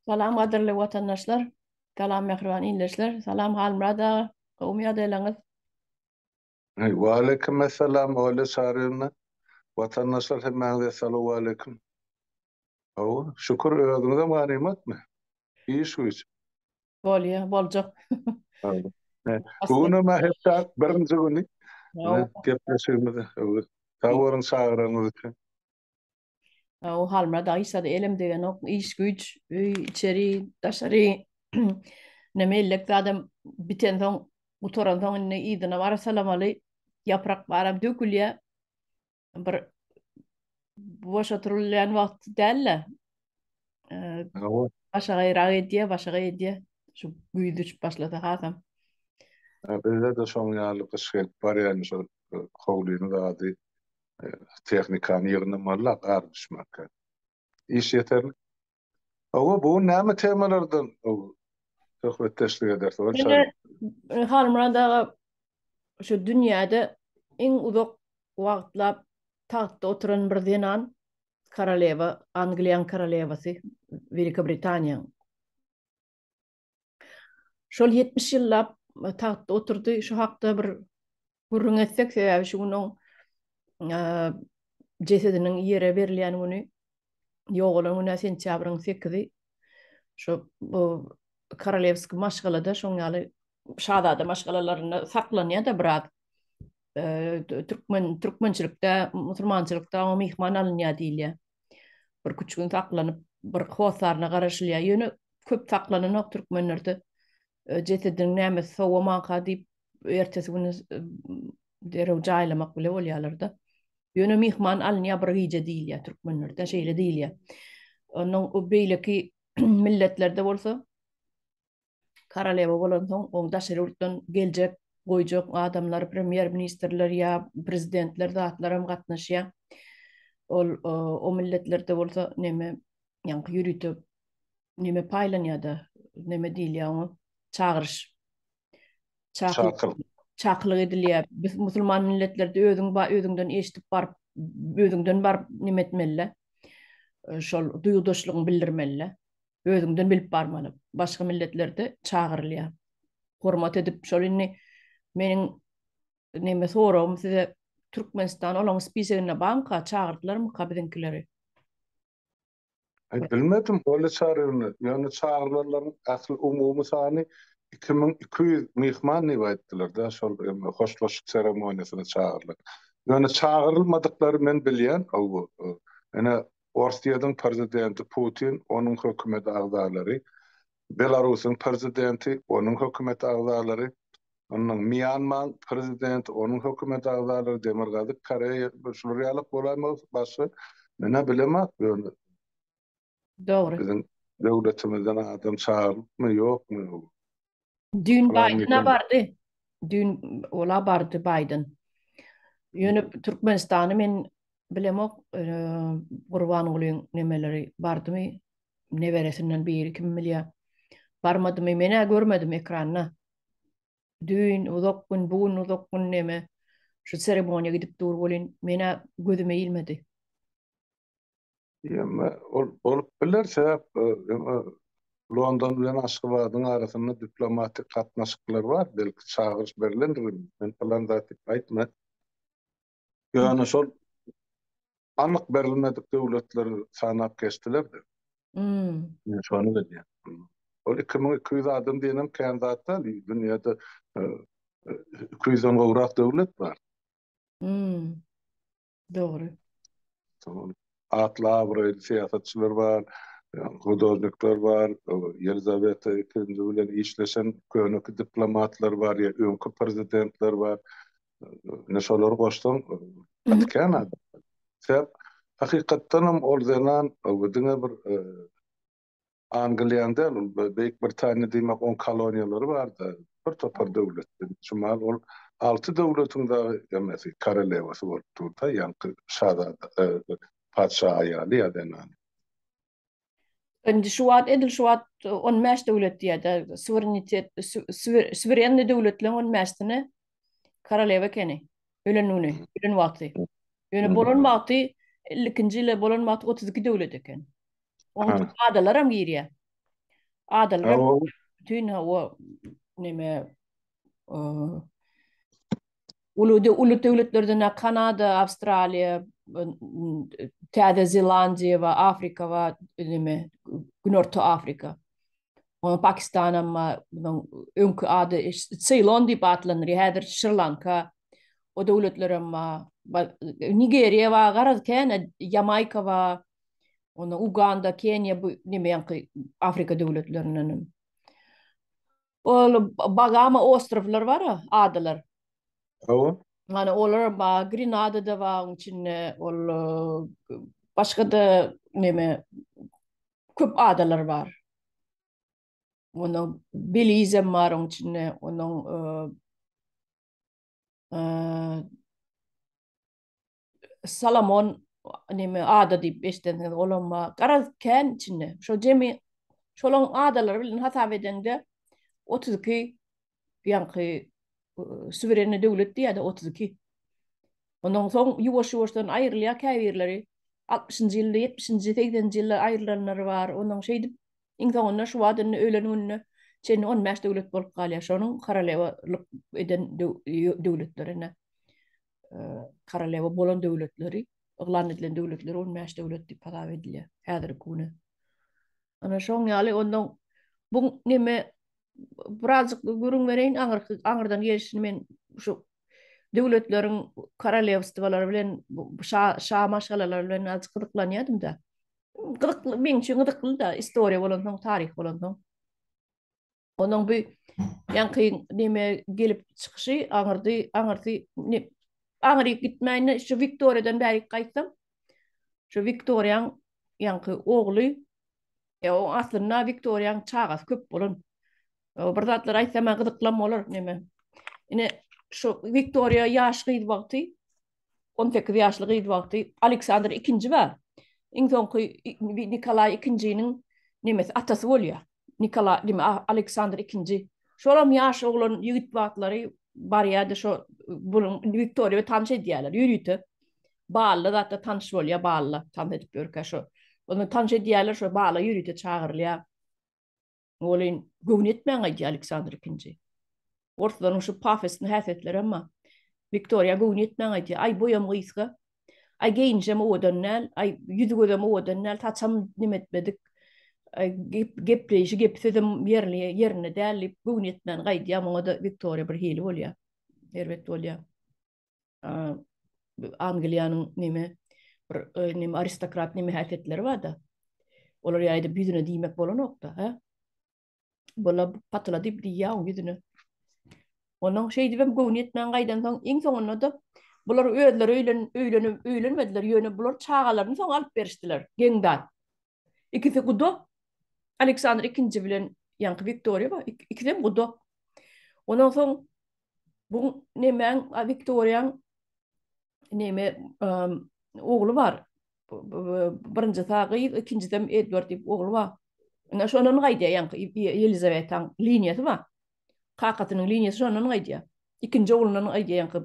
Salam gadyrly watandaşlar, Salam mähriban ildeşler, Salam Halmyrat aga, gowymy ýagdaýlaryňyz? Waleýkim essalam Olýa Çaryýewna, watandaşlar hemmäňize salowaleýkim. Hawa, şükür özüňizem ganymatmy? Iş güýç. Bolýa, boljak. Bu günem hepdä birinji güni gepleşigimiz. Sag boluň çagyranyňyz üçin. O Halmyrat Aýşa-da elem degenok, iş-güýç, öý, içeri, daşary näme ellek zadam bitensoň, gutaransoň indi yzyna baryp salamaly, ýaprak baram dökülýär. Bir boş oturylýan wagt däl-de, başagaýrak edýär, başagaý edýär. Şu güýz düşüp başlasa hasam. Bizde-de şoň ýaly gyş gelip barýar, şol howlynyň zady tehnikany ýygnamaly-la gar düşmänkä. Iş ýeterlik. Hawa, bu gün näme temalardan söhbetdeşlik ederis? Ine, Halmyrat aga şu dünýäde iň uzak wagtlap tagtda oturan bir zenan, koralewa, Angliýanyň koralewasy, Welikiobritaniýanyň. Şol ýetmiş ýyllap tagtda oturdy, şu hakda bir gürrüň etsek, sebäbi şu gün oň jesediniň ýere berilýän güni, ýogalan güni sentýabryň sekizi. Şu bu Korolewskiý maşgalada şoň ýaly şazada maşgalalarynda saklanýar-da biraz. Türkmen, türkmençilikde, musulmançylykda oňa myhman alynýar diýilýär. Bir küçük gün saklanyp, bir hosaryna garaşylýar. Ýöne köp saklanynak türkmenlerde e, jesediniň näme sowamanka diýip ertesi güni e, derew jaýlamak bile bolýarlar-da. Ýöne myhman alynýar bir gije diýilýär türkmenlerde, şeýle diýilýär. Onuň o beýleki milletlerde bolsa Koralewa bolansoň, oň daşary ýurtdan geljek, goýjak adamlar, premýer-ministrler ýa prezidentler zatlaram gatnaşýar. Ol o milletlerde bolsa neme, ýaňky ýörite neme paýlanýar-da, neme diýilýär oňa, çagyryş. Çakyl. Çakylyk edilýär. Biz musulman milletlerde özüň ba özüňden eşidip baryp, özüňden baryp neme etmeli-le, şol duýgudaşlygyňy bildirmeli-le. özüňden bilip barmaly. Başga milletlerde çagyrylýar. Hormat edip, şol indi meniň neme soragym size Türkmenistan olaň spiseginde barmyka, çagyrdylarmyka biziňkileri? Aý bilmedim, ol çaryny, ýöne çagyrylanlaryň ähli umumy sany iki müň iki ýüz myhman diýip aýtdylar-da, şol hoşlaşyk seremoniýasyna çagyrylan. Ýöne çagyrylmadyklary men bilýän, hawa, ine Orsýetiň Prezidenti Putin, onuň hökümet agzalary, Belarusyň Prezidenti, onuň hökümet agzalary, ynha, Mýanmaň Prezidenti, onuň hökümet agzalary, Demirgazyk Koreýa, şular ýalak bolaýmagy başga menä bilemok ýöne. Dogry. Biziň döwletimizden adam çagyrlypmy, ýokmy? Düýn Baýdyna bardy. Düýn ola bardy Baýdyn. Ýöne Türkmenistany men bilemok, Gurbangulyň nemeleri bardymy, neberesinden biri kim bilýär. Barmadymy, men-ä görmedim ekranda. Düýn uzak gün, bu gün uzak gün neme, şu seremoniýa gidip dur welin, men-ä gözüme ilmedi. Ýöne ol bolup biler, sebäp London bilen Aşgabadyň arasynda diplomatik gatnaşyklar bar, belki çagyryş berilendir, men pylan zat diýip aýtman. Ýöne şol anyk berilmedik döwletleri sanap geçdiler-de. Men şony bilýän. Ol iki müň iki ýüz adam diýenem kän zat däl, dünýäde iki ýüzden gowrak döwlet bar. Dogry. Tamam. Atly abraýly syýasatçylar bar, hudojnikler bar, Ýelizaweta ikinji bilen işleşen köneki diplomatlar bar, ýa öňki prezidentler bar. Ine şolary goşsaň gaty kän adam. Sebäp hakykatdanam ol zenan diňe bir Angliýanyň däl, ol Beýik Britaniýa diýmek, oň koloniýalary bardy, bir topar döwletden. Çumal ol alty döwletiň dagy emesi, korolewasy bolup durdy, ýaňky şazada, patyşa aýaly ýa zenany. Indi şu wagt, edil şu wagt on bäş döwlet diýýär-dä, suwerenitet, suwerenniý döwletleriň on bäşisine korolewa ekeni, ölen güni, ölen wagty. Ýöne bolan wagty, elli ikinji ýyl bolan wagty otuz iki döwlet eken. Oň içine adalaram girýär. Adalar bütün o neme uludy ulut döwletlerden Kanada, Awstraliýa, Täze Zelandiýa we Afrika we neme Günorta Afrika. Oň Pakistan hem munyň öňki ady Seýlon diýip atlandyrýar. Häzir Şri-Lanka o döwletler hem Nigeriýa we garaz kän Ýamaýka we Onda Uganda, Keniýa bu nemeýanky Afrika döwletlerindenem. Ol Bagama ostrowlar bar, adalar. Hawa. Mana olar bar, Grenada da bar onuň içinde, ol başga da neme köp adalar bar. Onda Belize bar onuň içinde, onuň eee Salomon neme ada diýip eşidensiňiz, olam bar. Garaz kän içinde. Şo jemi şolaň adalary bilen hasap edeňde 32 ýaňky suwerenni döwlet diýýärdi 32. Ondan soň ýuwaş-ýuwaşdan aýrylýar käbirleri. 60-njy ýylda, 70-nji, 80-nji ýylda aýrylanlary bar. Ondan şeýdip iň soňunda şu wagt indi ölen gününe çenli 15 döwlet bolup galýar. Şonuň koralewa lyk eden döwletlerine. korolewa bolan döwletleri, yglan edilen döwletleri on bäş döwlet diýip hasap edilýär häzirki güne. Ana şoň ýaly ondan bu neme birazjyk gürrüň bereýin aňyrky aňyrdan gelişini men şu döwletleriň korolewstwolary bilen şa şa maşgalalary bilen azjyk gyzyklanýardym-da. Gyzykly meň üçin gyzykly-da istoriýa bolansoň, taryh bolansoň. Onuň bu ýaňky neme gelip çykyşy aňyrdy, aňyrdy, ne, aňryk gitmäýin, şu Wiktoriýadan bärik gaýtsam, şu Wiktoriýaň ýaňky ogly, e, o aslynda Wiktoriýaň çagasy köp bolan. O bir zatlar aýtsa, maňa gyzyklam bolar, neme. Ine, şu Wiktoriýa ýaş gyz wagty, on sekiz ýaşly gyz wagty Aleksandr ikinji bar. Iň soňky Nikolaý ikinjiniň nemesi atasy bolýar. Nikolaý deme Aleksandr ikinji. Şolam ýaş oglan ýigit wagtlary barýar-da şo bunuň Wiktoriýa tanyş edýärler. Ýörite bally zatda tanyş bolýar, bally tanyş edip ýörkä şo. Onda tanyş edýärler şo bala ýörite çagyrylýar. Welin, göwni ýetmän gaýdýar Aleksandr Ikinji. Orslaryň şu pafosly häsiýetleri emma Wiktoriýa göwni ýetmän gaýdýar. Aý, boýam gysga. Aý, geýinişem owadan däl. Aý, ýüzi-gözem owadan däl. Saçam nim etmedik. Aý, gep-gepleýşi, gepi-sözem ýerli, ýerinde däl diýip, göwni ýetmän gaýdýar. Muňa-da Wiktoriýa birhili bolýar. Erbet bolýar. Angliýanyň näme bir näme aristokrat näme häsiýetleri bar-da. Olar ýaýda ýüzüne diýmek bolanok-da, hä? Bola patyla diýip diýýär oň ýüzüne. Onuň şeýdip hem göwni ýetmän gaýdan soň, iň soňunda-da bular özleri öýlen öýlenip öýlenmediler, ýöne bular çagalaryny soň alyp berişdiler, geň zat. Ikisi gudak. Aleksandr ikinji bilen ýaňky Wiktoriýa bar. Ikisem gudak. Ondan soň bu nemäň Wiktoriýaň neme ogly bar. Birinji sag gyz, ikinjisem Edward diýip ogly bar. Ine şondan gaýdýar ýaňky Ýelizawetaň liniýasy bar. Kakasynyň liniýasy şondan gaýdýar. Ikinji oglundan gaýdýar ýaňky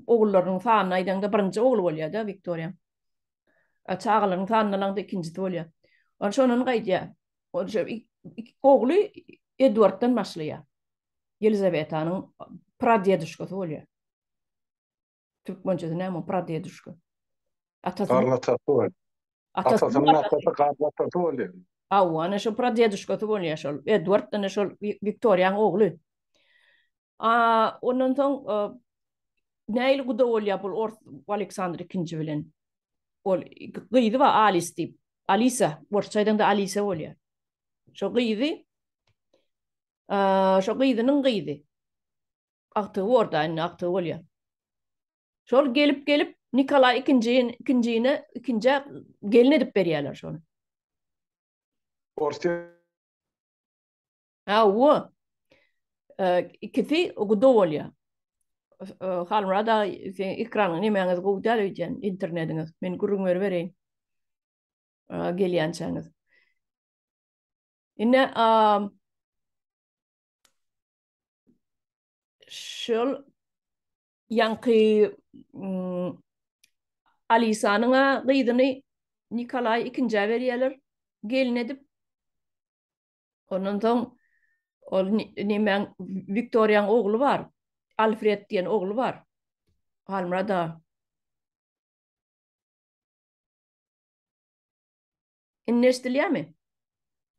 ogullarynyň sanyny aýdaňda birinji ogly bolýar-da Wiktoriýaň. A çagalaryň sanyndan aňda ikinjisi bolýar. Ol şondan gaýdýar. Ol şo ogly Edwarddan başlaýar. Ýelizawetanyň pradeduškasy bolýar. Türkmençesi näme pradeduška? Atasy. Garnatasy bolýar. Atasynyň atasy garnatasy bolýar. Hawa, ana şo pradeduškasy bolýar şol. Edwarddan şol Wiktoriýanyň ogly. A, ondan soň näil guda bolýar bul ors Aleksandr ikinji bilen? Ol gyzy bar Alis diýip. Alisa, orsça aýdanda Alisa bolýar. Şo gyzy şo gyzynyň gyzy. Agtygy borda, indi agtygy bolýar. Şol gelip gelip Nikolaý ikinji ikinjine ikinji gelin edip berýärler şony. Orsiýa Hawa. Ikisi guda bolýar. Halmyrada sen ekranyň nemäňiz gowy däl öýdýän internetiňiz. Men gürrüň beribereýin. Gelýänçäňiz. Ine şol ýaňky Alisanyň-a gyzyny Nikolaý ikinjä berýärler gelin edip. Ondan soň ol nimäň Wiktoriýaň ogly bar. Alfred diýen ogly bar. Halmurad aga. Indi eşidilýärmi?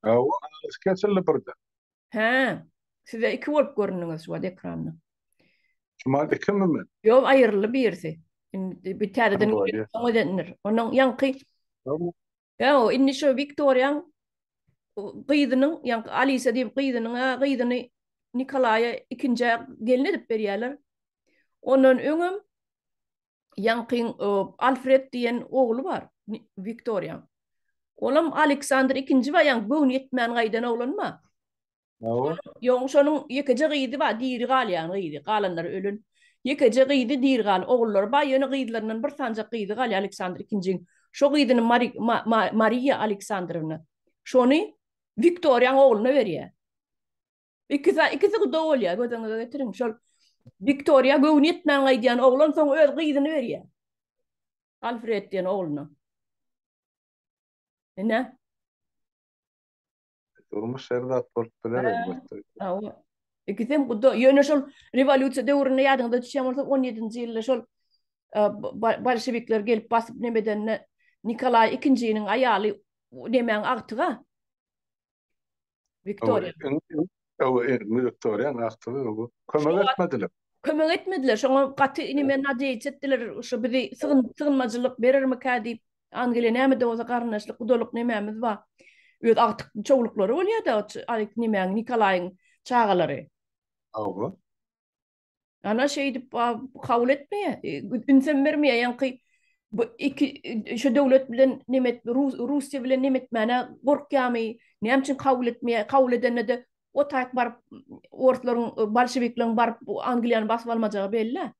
Hawa, alys kesildi birden. Hä. Size iki bolup göründiňiz şu wagt ekranda. Şumal ikimi men? Ýok, aýryldy birisi. Indi bir täzeden Ondan ýaňky Ýa-o, indi şo Wiktoriýaň gyzynyň, ýaňky Alisa diýip gyzynyň-a gyzyny Nikolaýa ikinjä gelin edip berýärler. Ondan öňem ýaňkyň Alfred diýen ogly bar Wiktoriýaň. Olam Aleksandr ikinji bar, ýaňky göwni ýetmän gaýdan oglan bar. Hawa. Ýoň şonuň ýekeje gyzy bar, diri galýan gyzy, galanlary ölen. Ýekeje gyzy diri galan, ogullary bar, ýöne gyzlaryndan bir sanjak gyzy galýar Aleksandr II-iň. Şo gyzyny Mari, Ma, Ma, Mariýa Aleksandrowna. Şony Wiktoriýaň ogluna berýär. Ikisi, ikisi guda bolýar, göz öňüňize getiriň. Şol Wiktoriýa göwni ýetmän gaýdýan oglan soň öz gyzyny berýär. Alfred diýen ogluna. Ine. Durmuş her zat bolup biler elbetde. Hawa. Ikisem guda. Ýöne şol rewolýusiýa döwründe ýadyňyza düşýän bolsa, 17-nji ýylda şol bolşewikler gelip basyp neme edende Nikolaý ikinjiniň aýaly nemäň agtygy-a? Wiktoriýa. Öw erim gülüp dur ýa wagtly öw kömek etmediler. Kömek etmediler şoňa gaty inime nadýeýt etdiler şu bizi sygyn sygynmajylyk berermikä diýip Angeliýa näme de bolsa garyndaşlyk gudalyk nemämiz bar öz agtyk çowluklary bolýada o ç aýk nemäň Nikolaýyň çagalary. Hawa. Ana şeýdip kabul etmeýär. E, ünsem bermeýär. Ýaňky bu iki e, şu döwlet bilen nemet Russiýa bilen nemetmäne gorkýamy? Näme üçin kabul etmeýär? Kabul edende de o taýk baryp orslaryň e, bolşewikleriň baryp Angliýany basyp almajagy belli.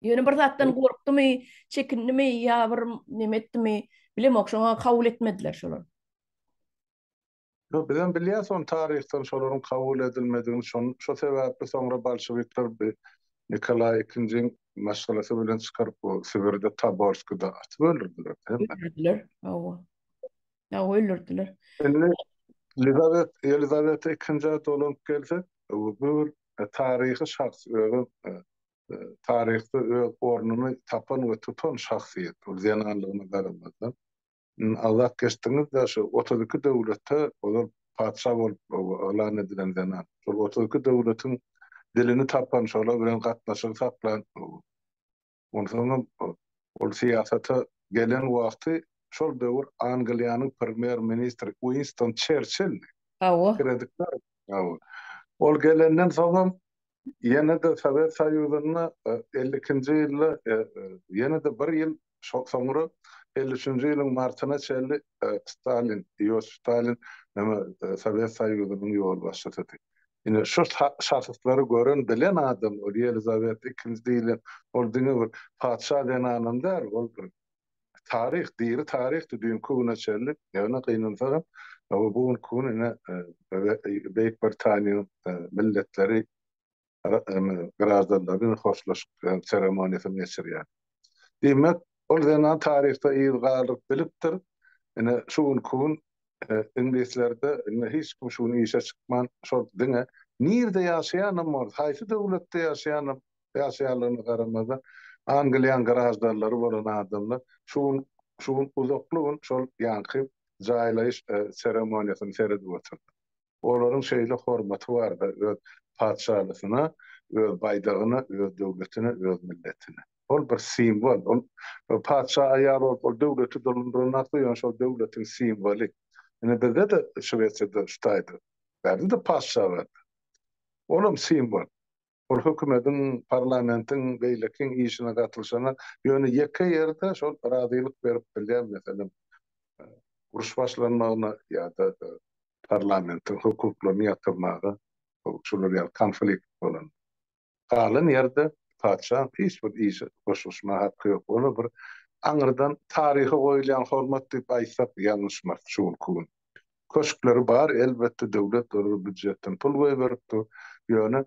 Ýöne bir zatdan gorkdumy, çekindimi ýa bir nemetdimi, bilemok, şoňa kabul etmediler şolar. Ýok, bizem bilýäs ony taryhdan, şolaryň kabul edilmedigini, şon, şo sebäpli soňra bolşewikler bi Nikolaý ikinjiň maşgalasy bilen çykaryp, bu Sibirde, Taborskide atyp öldürdiler, hemme. Öldürdiler, hawa. Hawa, öldürdiler. Indi Lizawet, Ýelizaweta ikinjä dolanyp gelsek, bu bir taryhy şahs, özem, taryhda öz ornuny tapan we tutan şahsyýet, ol zenanlygyna garamazdan. Agzap geçdiňiz-de şu otuz iki döwlete ozal patyşa bolup yglan edilen zenan. Şol otuz iki döwletiň dilini tapan, şolar bilen gatnaşygy saklan, onsoňam ol syýasata gelen wagty şol döwür Angliýanyň premýer ministri Uinston Çerçildi. Hawa. Kreditler. Hawa. Ol gelenden soňam Ýene-de Sowet Soýuzynda elli ikinji ýylda ýene-de bir ýyl soňra elli üçünji ýylyň martyna çenli Stalin, Iosif Stalin Sowet Soýuzynyň ýolbaşçysydy. Ine, şu şahyslary gören, bilen adam ol Ýelizaweta ikinji diýlen, ol diňe bir patyşa zenanam däl, ol bir taryh, diri taryhdy düýnki güne çenli. Ýöne gynansagam, bu günki gün ine Beýik Britaniýanyň milletleri graždanlary hoşlaşyk seremoniýasyny geçirýär. Diýmek, ol zenan taryhda yz galdyryp bilipdir. Ine şu günki gün iňlislerde indi hiç kim şu gün işe çykman, şol diňe nirde ýaşaýanam bolsa, haýsy döwletde ýaşaýanam ýaşaýanlygyna garamazdan, Angliýanyň graždanlary bolan adamlar şu gün şu gün uzakly gün şol ýaňky jaýlaýyş seremoniýasyny seredip otyrdy. Olaryň şeýle hormaty bardy öz patyşalysyna, öz baýdagyna, öz döwletine, öz milletine. Ol bir simwol. Ol patyşa aýal bolup, ol döwleti dolandyrandakdy, ýöne şol döwletiň simwoly. Ine bizde-de Şwesiýada şu taýda bärde-de patyşa bardy. Olam simwol. Ol hökümediň, parlamentiň, beýlekiň işine gatylyşana, ýöne ýeke ýerde şol razylyk berip bilýär, meselem, uruş başlanmagyna ýa-da parlamentiň hukuklaryny ýatyrmaga, şular ýaly konflikt bolanda. Galan ýerde patyşaň hiç bir işe goşulyşmaga haky ýok. Ony bir aňyrdan taryha goýulýan hormat diýip aýtsak ýalňyşmarys şu günki gün. Köşkleri bar, elbetde, döwlet zerur býujetden pul goýberipdir. Ýöne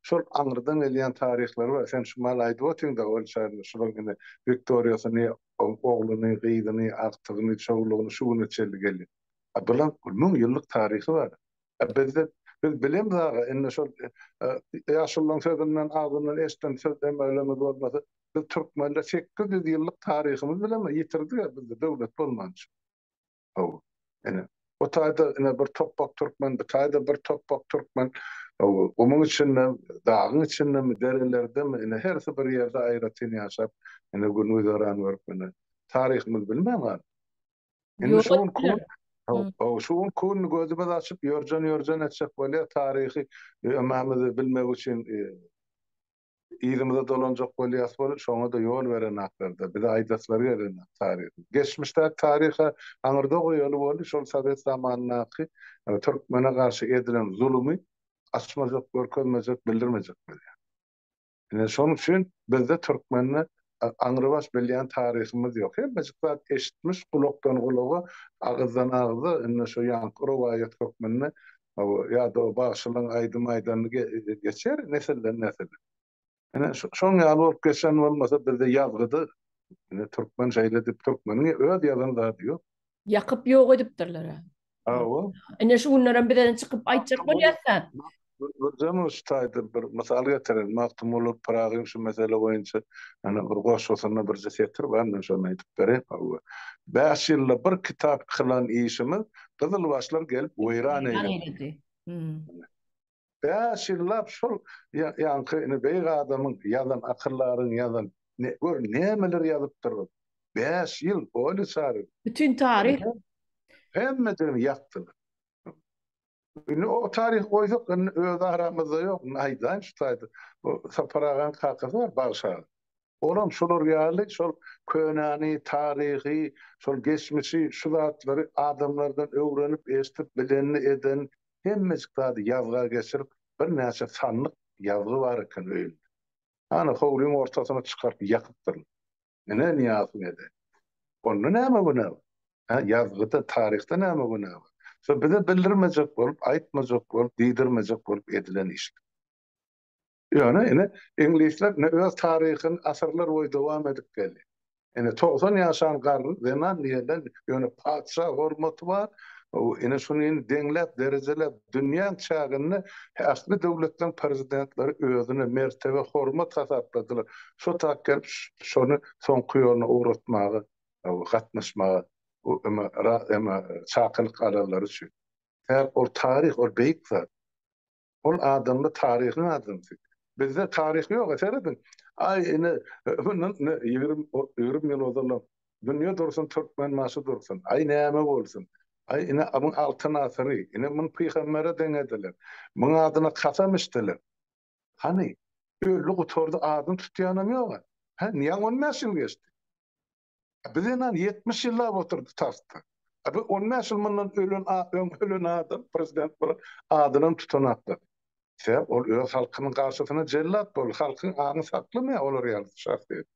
şol aňyrdan gelýän taryhlary bar. Sen şu maly aýdyp otyň-da, Olşaýynyň şulaň ine Wiktoriýasyny, ogluny, gyzyny, agtygyny, çowlugyny şu güne çenli gelýän. A bulaň müň ýyllyk taryhy bar. A bizde, biz bilemiz aga, indi şol ýaşululaň sözünden, agzyndan eşden söz demeglerimiz bolmasa, biz türkmenler sekiz ýüz ýyllyk taryhymyz bilemem ýitirdik-ä bizde döwlet bolmança. Hawa. Ine, bu taýda ine bir topbak türkmen, bu taýda bir topbak türkmen. Hawa, gumuň içinde, dagyň içindemi, derelerdemi, ine, hersi bir ýerde aýratyn ýaşap, ine, gün-güzeran görüp, ine, taryhymyzy bilmän galyp. Indi şu gün kün, hawa, şu gün kün gözümizi açyp, ýörjen-ýörjen etjek bolýar, taryhy ömämizi bilmek üçin, Yzymyza dolanjak bolýas bolup, şoňa-da ýol berenaklar-da, bize aýdaslary gelenok taryhy. Geçmişdäki taryhy aňyrda goýaly boldy, şol sowet zamanyndaky türkmene garşy edilen zulumy açmajak, görkezmejek, bildirmejek bolýar. Ine, şonuň üçin bizde türkmende aňrybaş bilýän taryhymyz ýok. Hemmejik zat eşitmiş, gulakdan gulaga, agyzdan agza, indi şu ýaňky rowaýat hökmünde ýa-da o bagşylaň aýdym aýdany geçer nesilden nesile. Ine, şoň ýaly bolup geçen bolmasa bizde ýazgyda, ine, türkmen şeýle diýip, türkmeniň öz ýazan zady ýok. Ýakyp ýok edipdirler-ä. Hawa. Ine şu günlerem bizeden çykyp aýtjak bolýarsa. Birden şu taýda bir mysal getiren Magtymguly Pyragyň şu mesele boýunça ýa-da bir goşgusynda birje setir bar, men şony aýdyp bereýin. Hawa. Bäş ýylda bir kitap kylan işimiz gyzylbaşlar gelip weýran eýledi. Bäş ýyllap şol ýaňky ine beýik adamyň ýazan akyldaryň ýazan gör nämeler ýazypdyrlar. Bäş ýyl bolýa çaryk. Bütin taryh. Hemmejigini ýakdylar. Indi o taryhy goýsak indi öz aramyzda ýok. Indi aýdaýyn şu taýda. Sapar agaň kakasy bar Bagşy aga. Olam şolar ýaly şol könäni, taryhy, şol geçmişi, şu zatlary adamlardan öwrenip, eşdip, bilenini, edenini, hemmejik zady ýazga geçirip, birnäçe sandyk ýazgy bar eken öýünde. Hany, howlyň ortasyna çykaryp ýakypdyrlar. Ine, Nyýazow ede. Onda näme günä bar? Hä, ýazgyda, taryhda näme günä bar? Şo bize bildirmejek bolup, aýtmajak bolup, diýdirmejek bolup edilen işler. Ýöne ine, iňlisler ine öz taryhyny asyrlar boýy dowam edip geldi. Ine, togsan ýaşan garry zenan niýeden, ýöne patyşa hormaty bar, ine, şuny indi deňläp, derejeläp, dünýäň çäginde ähli döwletleriň prezidentleri özüne mertebe, hormat hasapladylar. Şo tak gelip, şony soňky ýoluna ugratmaga gatnaşmaga çakylyk alanlary üçin. Ol taryh, ol beýik zat. Ol adamda taryhyň adamsy. Bizde taryh ýok-a serediň. Aý ine mundan ýigrimi ýyl ozalam dünýe dursun türkmen başy dursun. Aý näme bolsun. Aý ine muň altyn asyry. Ine muny pygambere deňediler. Muň adyna kasam içdiler. Hany öldi gutardy adyny tutýanam ýok-a. Hä niýe on bäş ýyl geçdi. Biz enan ýetmiş ýyllap oturdy tagtda. A bu on bäş ýyl mundan ölen a öň ölen adam prezident bolan adyny tutanaklady. Sebäp ol öz halkynyň garşysyna jellat boldy. Halkyň aňy saklamaýar olar ýaly şahsyýeti.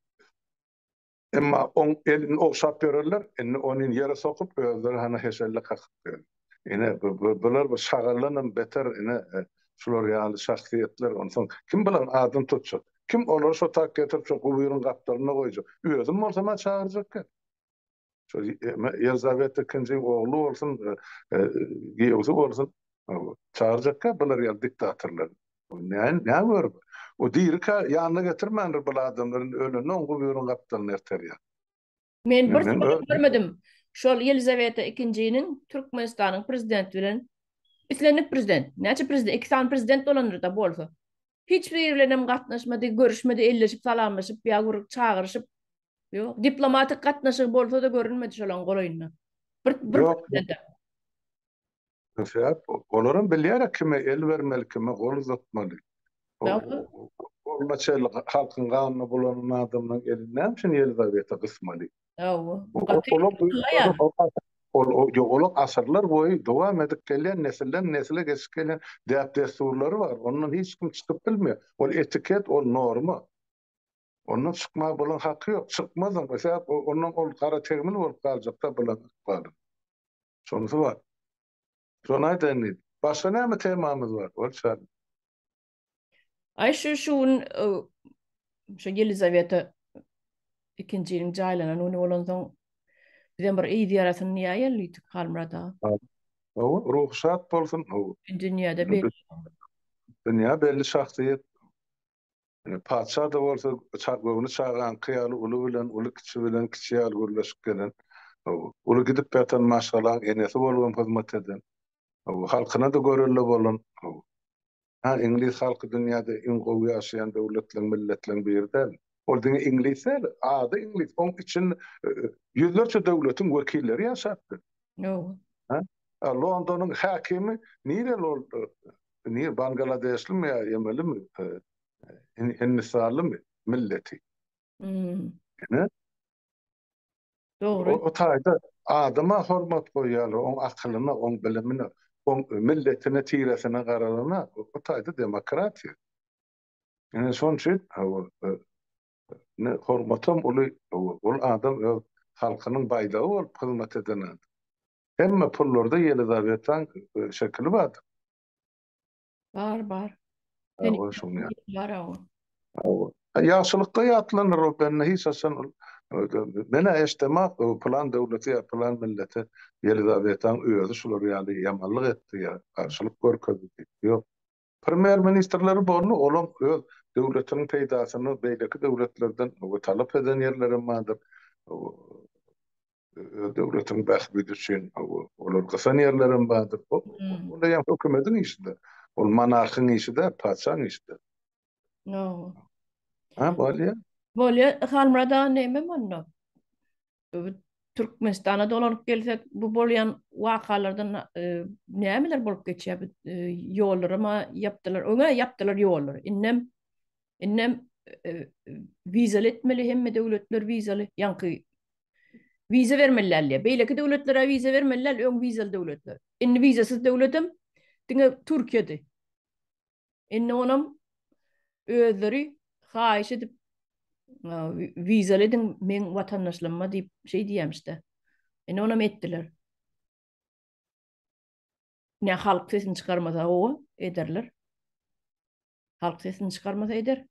Emma oň elini ogşap ýörerler, indi ony ýere sokup özleri hana heşelle kakyp ýörler. Ine, bular bir şagaldanam beter, ine, şular ýaly şahsyýetler, onsoň kim bularyň adyny tutjak? Kim olary şo tak getirip, şo guburyň gapdalynda goýjak? Özüm bolsam-a çagyrjak eken. Şo Ýelizaweta II-iň ogly bolsun, giýewsi bolsun, çagyrjak eken bular ýaly diktatorlary. Näme, nä görüp? O dirikä ýanyna getirmändir bul adamlary, indi ölende oň guburyň gapdalyna erterýär. Men bir sözü görmedim. Şol Yelizaveta II-niň Türkmenistanyň prezidenti bilen islendik prezident, näçe prezident, iki sany prezident bolandyr-da bolsa. Hiç biri bilen hem gatnaşmady, görüşmedi, elleşip, salamlaşyp ýa bir çagyryşyp. Ýok, diplomatik gatnaşygy bolsa-da görünmedi şolaň golaýynda. Bir, bir. Sebäp olaram bilýärä kime el bermeli, kime gol uzatmaly. Goluna çenli halkyň ganyna bulanan adamlaryň elini näme üçin Ýelizaweta gysmaly? Hawa. Olar asyrlar boýy dowam edip gelýän, nesilden nesle geçip gelýän däp-dessurlary bar. Ondan hiç kim çykyp bilmeýär. Ol etiket, ol norma. Ondan çykmaga bulaň haky ýok, çykmazam we sebäp ondan ol gara tegmil bolup galjakda bulaň ykbaly. Şonusy bar. Şony aýdaýyn diýdim. Başga näme temamyz bar? Ol çal. Aý şu şu gün şu Ýelizaweta ikinjiniň jaýlanan güni bolansoň bizem bir eý zyýaratyny diýäýeli diýdik Halmyrat aga. Hawa. Hawa, ruhy şat bolsun. Hawa. Dünýäde belli. Dünýä belli şahsyýet. Patyşa-da bolsa göwni çagaňky ýaly uly bilen, uly kiçi bilen, kiçi ýaly gürleşip gelen. Uly gidip ýatan maşgalaň enesi bolup hem hyzmat eden. Halkyna-da görelde bolan. Hä, iňlis halky dünýäde iň gowy ýaşaýan döwletleň, milletleň biri dälmi? Ol diňe iňlis däl, ady iňlis, oň içinde ýüzlerçe döwletiň wekilleri ýaşapdyr. Ýok. Londonyň häkimi nireli bolupdyr? Nir Bangladeşlimi ýa Ýemenlimi? Hindistanlymy milleti? Ine. Dogry. O taýda adama hormat goýýarlar, oň akylyna, oň bilimine, oň milletine, tiresine garalana, o taýda demokratiýa. Ine şonuň üçin Ine, hormatam uly, ol adam öz halkynyň baýdagy bolup hyzmat eden adam. Hemme pullarda Ýelizawetaň şekili bardyr. Bar, bar. Ýagşylykda ýatlandyr ol bende, hiç haçan ol men-ä eşdemok, pylan döwlete ýa pylan millete Ýelizawetaň özi şular ýaly ýamanlyk etdi ýa garşylyk görkezdi diýip, ýok. Premýer ministrleri boldy, olam öz döwletiniň peýdasyny beýleki döwletlerden we talap eden ýerlerem bardyr. Öz döwletiniň bähbidi üçin olar gysan ýerlerem bardyr. Bu onda ýa hökümediň işidir. Ol monarhyň işi däl, patyşaň işidir. Ýa. Hä bolýa. Bolýa, Halmyrat aga näme onda? Türkmenistana dolanyp gelsek, bu bolýan wakalardan nämeler bolup geçýär? Ýollaram ýapdylar, öňem ýapdylar ýollary. Indem, indem wizaly etmeli, hemme döwletler wizaly, ýaňky wiza bermeli däl diýýär. Beýleki döwletler-ä wiza bermeli däl, öň wizaly döwletler. Indi wizasyz döwletem diňe Türkiýedi. Indi onam özleri haýyş edip wizaly ediň meň watandaşlygyma diýip şeý diýemşde. Indi onam etdiler. Ne halk sesini çykarmasa o ederler. Halk sesini çykarmasa eder.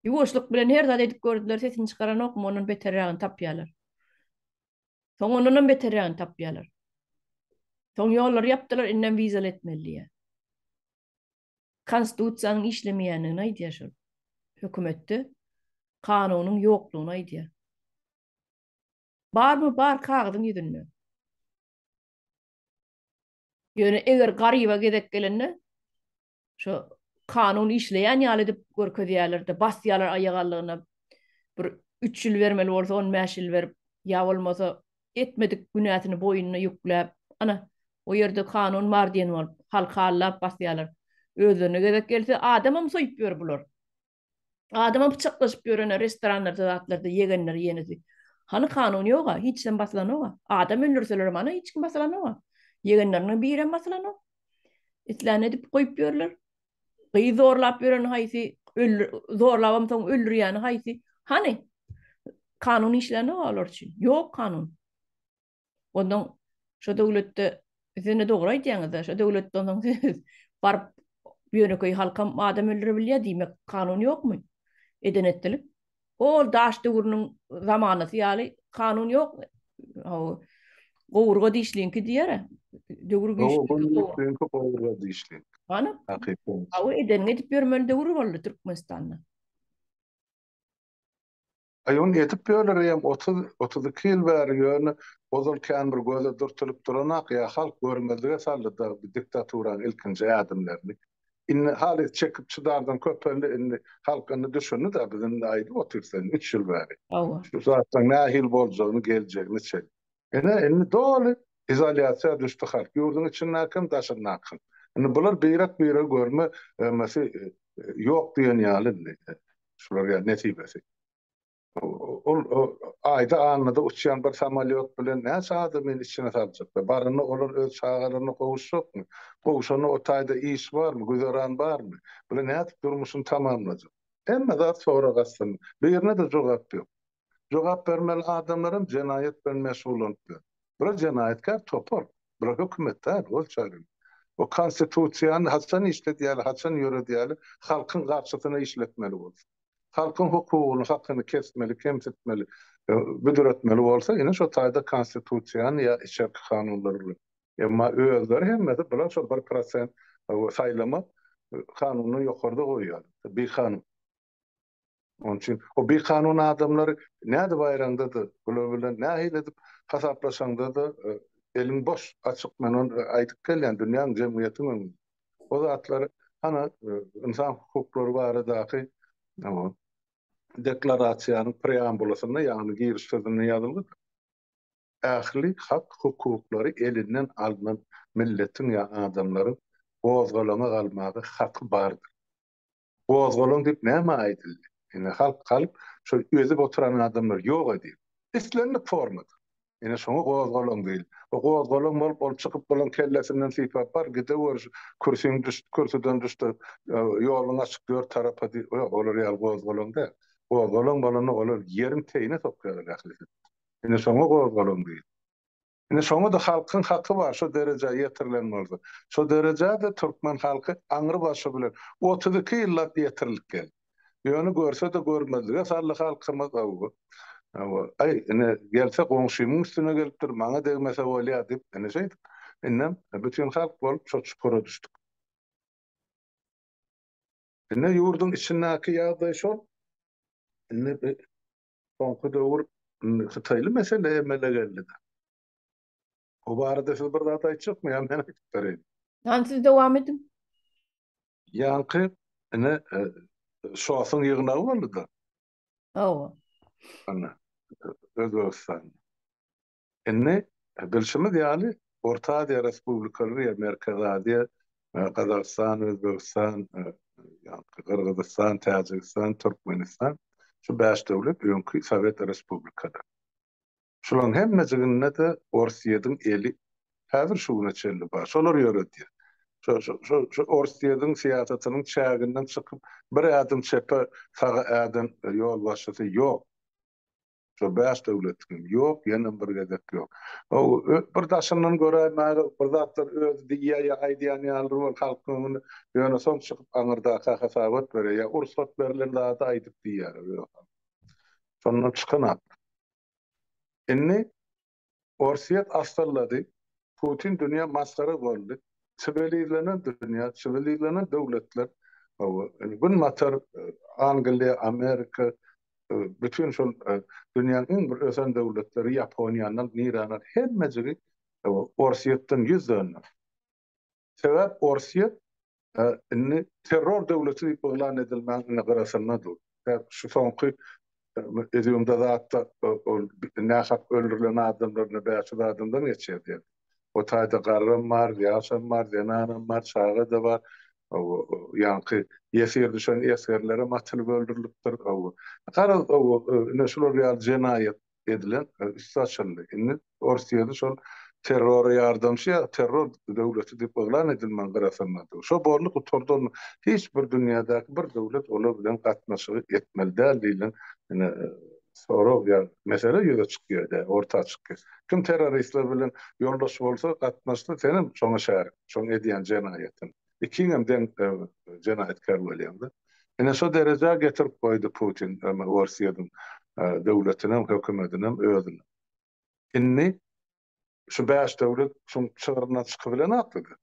Ýuwaşlyk bilen her zat edip gördüler, sesini çykaranokmy, ondan beterrägini tapýarlar. Soň ondanam beterrägini tapýarlar. Soň ýollary ýapdylar, indem wizaly etmeli diýýär. Konstitusiýanyň işlemeýändigini aýdýar şol. Hökümetde kanunyň ýoklugyny aýdýar. Barmy, bar kagyzyň ýüzünde. Ýöne eger garyba gezek gelende, Şo kanun işleýän ýaly edip görkezýärler-de, basýarlar aýagallygyna. Bir üç ýyl bermeli bolsa, on bäş ýyl berip, ýa bolmasa etmedik günäsini boýnuna ýükläp, ana, o ýerde kanun bar diýen bolup, halky aldap basýarlar. Özlerine gezek gelse, adamam soýüp ýör bular. Adama pyçaklaşyp ýörene restoranlarda zatlarda ýegenler ýenidi. Hany kanun ýoga, hiç kim basylanoga. Adam öldürselerem hany hiç kim basylanoga. Ýegenleriniň birem basylanok. Islän edip goýup ýörler. Gyz zorlap ýören haýsy, zorlabam soň öldürýäni haýsy? Hany kanun işlänok olar üçin. Ýok kanun. Ondan şo döwletde siz-de dogry aýdýaňyz-da, şo döwletde ondan siz baryp ýönekeý halkam adam öldürebilýär diýmek kanun ýokmy? Eden etdilik. Hol daş döwrüniň zamanasy ýaly kanun ýok. Haw. Gowurga dişliňki diýer-ä. Döwür güýçlüňki gowurga dişliň. Hany? Hakykat. Haw edeniňi edip ýörmeli döwür boldy Türkmenistanda. Aýun edip bölürýem otuz, otuz iki ýyl bäri ýöne ozal kän bir göze dürtülip duranok ýa halk görmezlige saldy dagy bi diktaturaň ilkinji ädimlerini. Indi halys çekip çydardan köpeldi indi halk indi düşündi dagy biz indi aýdyp otyr sen üç ýyl bäri. Hawa. Şu zatlaň nähili boljagyny geljegini çen. Ine, indi doly izolýasiýa düşdi halk, ýurduň içindäki hem, daşyndaky hem. Indi bular birek-biregi görme emesi ýok diýen ýaly indi şular ýa nesibesi. Ol Aýda, Annada uçýan bir samolýot bilen näçe adamyny içine saljaklar? Baranda olar öz çagalaryna gowuşjakmy? Gowşanda o taýda iş barmy, güzeran barmy? Bular nädip durmuşyny tamamlajak? Hemme zat sorag astynda. Birine-de jogap ýok. Jogap bermeli adamlaram jenaýat bilen meşgullanyplar. Bular jenaýatkär topar. Bular hökümet däl, ol çagyryň. O konstitusiýany haçan işledýäli, haçan ýöredýäli, halkyň garşysyna işletmeli bolsa. Halkyň hukugyny, hakyny kesmeli, kemsitmeli, büdretmeli bolsa, ine şo taýda konstitusiýany ýa içerki kanunlary bilen. Emma özleri hemmesi bular şo bir prosent saýlama kanunyny ýokarda goýýarlar. Bikanun. Onuň üçin o bikanun adamlar nädip baýraňda-da, bular bilen nähili edip hasaplaşaňda-da, eliň boş, açyk, men ony aýdyp gelýän, dünýäň, jemgyýetiň öňünde. O zatlary, hany, ynsan hukuklary baradaky deklarasiýanyň preambulasynda, ýagny giriş sözünde ýazylgydy. Ähli hak hukuklary elinden alnan milletiň ýa adamlaryň gozgalaňa galmaga haky bardyr. Gozgalaň diýip näme aýdyldy? Ine halk halk şol özüp oturan adamlar ýok edil. Islendik formada. Ine şoňa gozgalaň diýil. O gozgalaň bolup ol çykyp bolan kellesinden sypap bar gidewür şu kürsiň düş kürsüden düşde ýoluň açyk dört tarapa diýip ýok olar ýaly gozgalaň däl. Gozgalaň bolanda olar ýeriň teýine sokýarlar ählisi. Ine şoňa gozgalaň diýil. Indi şoňa-da halkyň haky bar, şo derejä ýetirilen bolsa. Şo derejä-de türkmen halky aňry başy bilen otuz iki ýyllap ýetirilip geldi. Ýöne görse-de görmezlige saldy halkymyz, hawa. Hawa, aý, ine, gelse goňşymyň üstüne gelipdir, maňa degmese bolýa diýip, ine şeýdip, indem bütin halk bolup şo çukura düşdük. Indi ýurduň içindäki ýagdaý şol. Indi Soňky döwür hytaýly mesele emele geldi-de. O barada siz bir zat aýtjakmy ýa men aýdyp bereýin? Ýani siz dowam ediň. Ýaňky ine Şosuň ýygnagy boldy-da. Hawa. Ana Özbegistan. Indi, bilşimiz ýaly, Orta Aziýa respublikalary ýa Merkezi Aziýa, Gazagystan, Özbegistan, ýa-da Gyrgyzystan, Täjigistan, Türkmenistan, şu bäş döwlet öňki sowet respublikalary. Şularyň hemmejiginde-de Orsýediň eli häzir şu güne çenli bar. Şolar ýöredýär. Şu Orsýediň syýasatynyň çäginden çykyp, bir ädim çepe, saga äden ýolbaşçysy ýok. Şo bäş döwletiňem ýok, ýenem bir gezek ýok. Haw, bir daşyndan göräýmäge bir zatlar özi diýýär ýa aýdýan ýalydyr ol halkyň öňünde, ýöne soň çykyp aňyrdaka hasabat berýär, ýa ursat berlen zady aýdyp diýýär özi halk. Şondan çykanok. Indi Orsýet assyllady, Putin dünýä masgara boldy, siwilizlenen dünýä, siwilizlenen döwletler, Günbatar, Angliýa, Amerika, bütin şol dünýäň iň bir ösen döwletleri, Ýaponiýa, nirä, hemmejigi Orsýetden ýüz döndü. Sebäp Orsýet indi terror döwleti diýip yglan edilmäň indi gyrasynda dur. Sebäp şu soňky edýumda zatda ol nähak öldürilen adamlarynda bäş ýüz adamdan geçýär diýen. O taýda garram bar, ýaşam bar, zenanam bar, çaga-da bar. Ýaňky ýesir düşen esgerlerem atylyp öldürilipdir. Garaz, indi şular ýaly jenaýat edilen üsti açyldy. Indi Orsýeti şol terrora ýardamçy ýa terror döwleti diýip yglan edilmän garasanlar dur. Şo boldy gutardy onda hiç bir dünýädäki bir döwlet olar bilen gatnaşygy etmeli däl diýlen ine sorag ýa mesele ýüze çykýar dä orta çykýar. Kim terroristler bilen ýoldaş bolsa gatnaşsa senem şoňa şärik şoň edýän jenaýatyň. ikiňem deň jenaýatkär bolýaňda. Ine şo derejä getirip goýdy Putin Orsýetiň döwletinem, hökümetinem, özünem. Indi şu bäş döwlet şuň çygryndan çykybilen atlydy.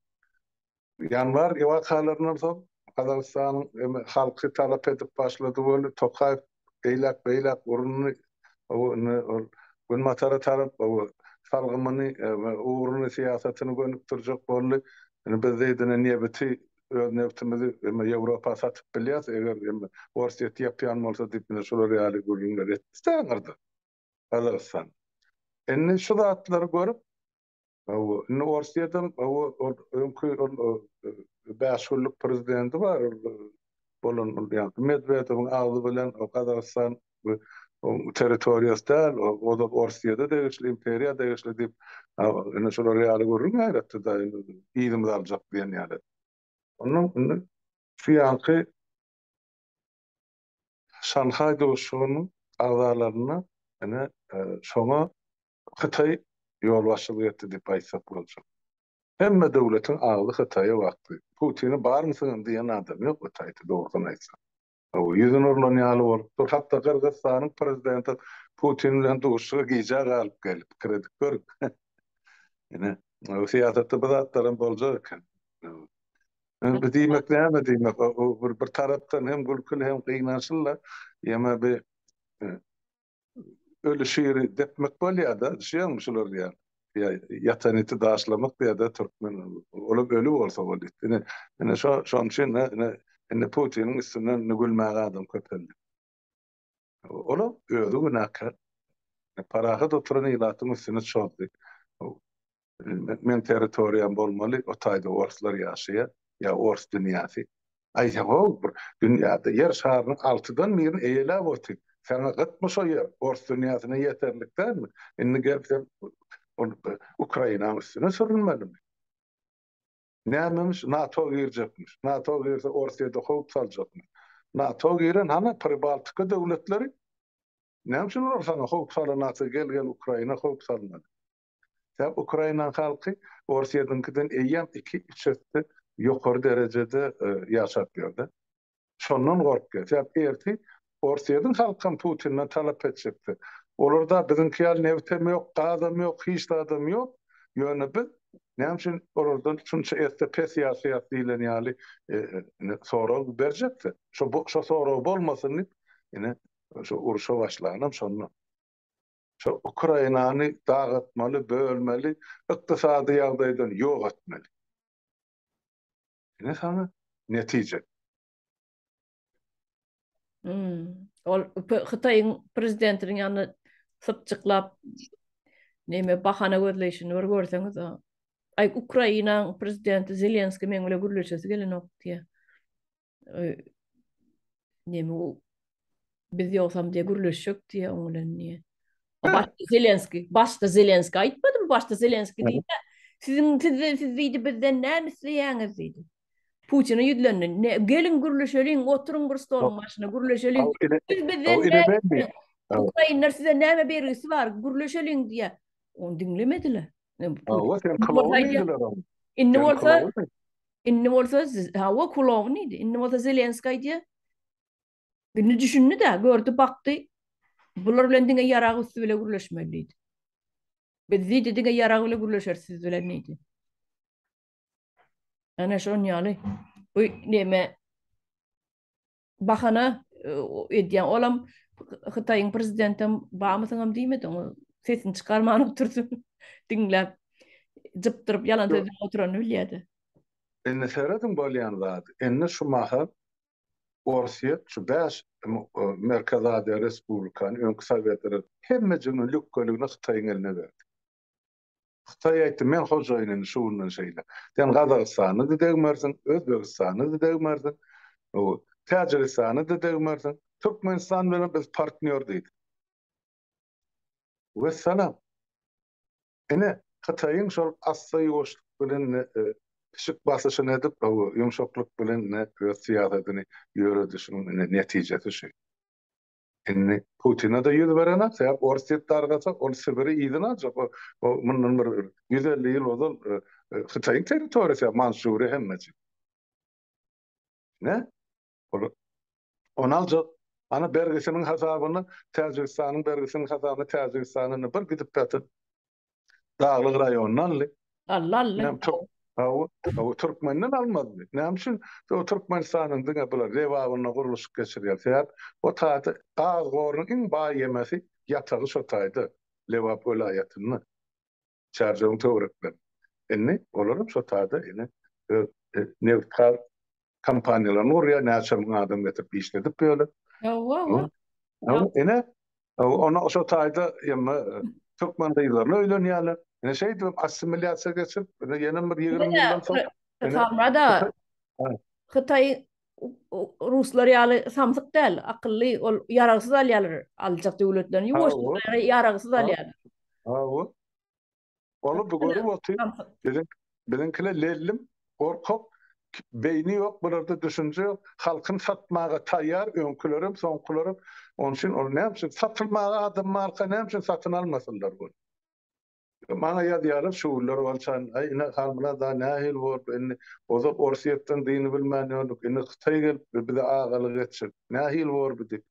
Ýanwar wakalaryndan soň Gazagystanyň halky talap edip başlady weli Tokaýew eýläk beýläk urundy ol günbatara tarap salgymyny ugruny syýasatyny gönükdirjek boldy indi biz zeýdine nebiti öz nebtimizi ýewropa satyp bilýäs eger orsýet ýapýan bolsa diýip ine şular ýaly gürrüňler etdi daňyrda gazagystan indi şu zatlary görüp Hawa, indi Orsýetiň hawa ol öňki ol bäş günlük prezidenti bar ol bolan ol ýaňky Medwedewiň agzy bilen o Gazagystan oň territoriýasy däl, ol Orsýete degişli, imperiýa degişli diýip, indi şular ýaly gürrüň ýaýratdy-da, yzymyzy aljak diýen ýaly. Onnoň indi şu ýanky Şanhaý duşuşygynyň agzalaryna ine şoňa Hytaý ýolbaşçylyk etdi diýip aýtsak boljak. Hemme döwletiň agzy Hytaýa bakdy. Putini barmysyňam diýen adam ýok Hytaýda dogrusyny aýtsak. Hawa, ýüzüni urlan ýaly bolup dur. Hatda Gyrgyzystanyň prezidenti Putin bilen duşuşyga gijä galyp geldi. Pikir edip görüň. Ine, syýasatda bu zatlaram boljak eken. Indi diýmek näme diýmek, bir tarapdan hem gülküli hem gynançly-la. Ýöne bi ölü şiri depmek bolýar da, düşýäňmi şular diýýän. Ýa ýatan iti daşlamak diýýär-de türkmen. Olam öli bolsa boldy. Ine, ine şo şonuň üçin ine indi Putiniň üstünden indi gülmäge adam köpeldi. Olam özi günäkär. Parahat oturan ilatyň üstüne çozdy. Meň territoriýam bolmaly, o taýda orslar ýaşaýar, ýa ors dünýäsi. Aýdaw-ow, bir dünýäde ýer şarynyň altydan birini eýeläp otyr. Saňa gytmy şo ýer? Ors dünýäsine ýeterlik dälmi? Indi gelip sen Ukrainaň üstüne sürünmelimi? Nämemiş, NATO girjekmiş. NATO girse Orsyýada howp saljakmyş. NATO giren hana Pribaltika döwletleri? Näme üçin olar saňa howp salynakka gel-gel Ukraina howp salynady? Sebäbi Ukraina halky Orsýetiňkiden eýýäm iki-üç esse ýokary derejede ýaşap ýörde. Şondan gorkýar. Sebäbi erti Orsýetiň halkam Putinden talap etjekdi. Olarda biziňki ýaly nebtem ýok, gazam ýok, hiç zadam ýok. Ýöne biz näme üçin olardan şunça esse pes ýaşaýas diýlen ýaly sorag berjekdi. Şo sorag bolmasyn diýip ine şu urşa başlanam şondan. Şu Ukrainany dagatmaly, bölmeli, ykdysady ýagdaýdan ýok etmeli. Ine saňa netije. Hum. Ol Hytaýyň prezidentiniň ýanyna sypjyklap neme bahana gözleýşini bir görseňiz o. Aý Ukrainanyň prezidenti Zelenskiý meň bilen gürleşesi gelenok diýýär. Nemi o biz yoksam diye gürleşecek diye onun bilen diye. Başta Zelenski, başta Zelenski aytmadım, başta Zelenski diye. Sizin siz siz diýdi bizden näme isleýäňiz diýdi. Putine ýüzlendi. Ne, gelin gürleşeliň, oturyň bir stoluň başyna gürleşeliň. Siz bizden Ukrainler size näme bergisi bar? Gürleşeliň diýýär. Onu diňlemediler. Hawa sen kylawlydylar. Indi bolsa Indi bolsa hawa kulagy neydi? Indi bolsa Zelenskiý aýdýa. Indi düşündi-de, gördi, bakdy. Bular bilen diňe ýarag üsti bile gürleşmeli diýdi. Biz diýdi diňe ýarag bile gürleşeris siz bilen diýdi. Ana şon ýaly bu neme Bahana edýäň olam hytaýyň prezidentem bamysyňam diýmedi oňa sesini çykarman oturdy diňläp jypdyryp ýalan sözläp oturany bilýädi. Indi serediň bolýan zady indi şu mahal orsyýet şu bäş merkezi aziýa respublikany öňki sowet hemmejigini lükgeligini hytaýyň eline berdi. Hytaý aýtdy, Men hojaýyn indi şu günden şeýle. Sen Gazagystany-da degmersiň, Özbegistany-da degmersiň, o, Täjigistany-da degmersiň. Türkmenistan bilen biz partnýor diýdi. Wessalam. Ine, Hytaýyň şol assa-ýuwaşlyk bilen pişik basyşyny edip, ýumşaklyk bilen öz syýasatyny ýöredişiniň netijesi şu. Indi Putine-de ýüz berenak, sebäp Orsýet dargasa, ol Sibiri yzyna aljak. O, o mundan bir ýüz elli ýyl ozal Hytaýyň territoriýasy ýa Mançžuriýa hemmesi. Ne? Ol ony aljak. Ana bergisiniň hasabyny Täjigistanyň bergisiniň hasabyny Täjigistana indi bir gidip ýatyr. Daglyk raýondan aldy. Aldy, aldy. Näme türk? Hawa, hawa türkmenden almazmy? Näme üçin o Türkmenistanyň diňe bular lebabynda gurluşyk geçirýär? Sebäp o taýda gaz gorunyň iň baý ýemesi ýatagy şo taýda, Lebap welaýatynda. Çärjewiň töwereklerinde. Indi olar hem şo taýda indi öz nebit-gaz kompaniýalaryny gurýar, näçe müň adam getirip işledip ýöne. Hawa-hawa. Ine, onda şo taýda ýa-da türkmen gyzlaryna öýlenýärler. Ine şeýdip assimilýasiýa geçip, ýene bir ýigrimi ýyldan soň. Salamada, Hytaý ruslar ýaly samsyk däl, akylly, ol ýaragsyz alýarlar, aljak döwletlerini ýuwaşjyk, ýaragsyz alýarlar. Hawa. Ony bu görüp otyr. Biziň biziňkiler lellim, gorkak, beýni ýok, bularda düşünje ýok. Halkyny satmaga taýýar, öňkülerem, soňkularem. Onuň üçin ol näme üçin satylmaga adam barka näme üçin satyn almasynlar bunu? Maňa ýazýarlar şu günler bolsan, aý ine Halmyrat-a nähili boldy indi, ozal Orsýetden dyny bilmän ýördük, indi Hytaý gelipdir, bize agalyk etjek. Nähili bor bu diýip.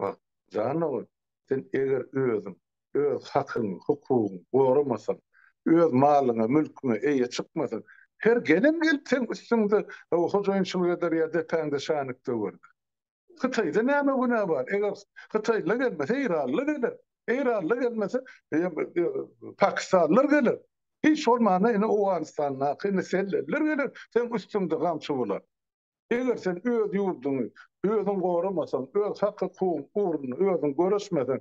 Bak, janawer, sen eger özüň, öz hakyňy, hukugyňy goramasaň, öz malyňa, mülküňe eýe çykmasaň, her gelen gelip seň üstüňde hojaýynçylyk eder ýa depäňde şänik döwer. Hytaýda näme günä bar? Eger hytaýlylar gelmese, eýranlylar geler. Eýranlylar gelmese, pakistanlylar geler. Hiç bolmanda indi Owganystandaky indi selleliler geler, seň üstüňde gamçy bular. Eger sen öz ýurduňy özüň goramasaň, öz hak-hukugyň ugrunda özüň göreşmeseň,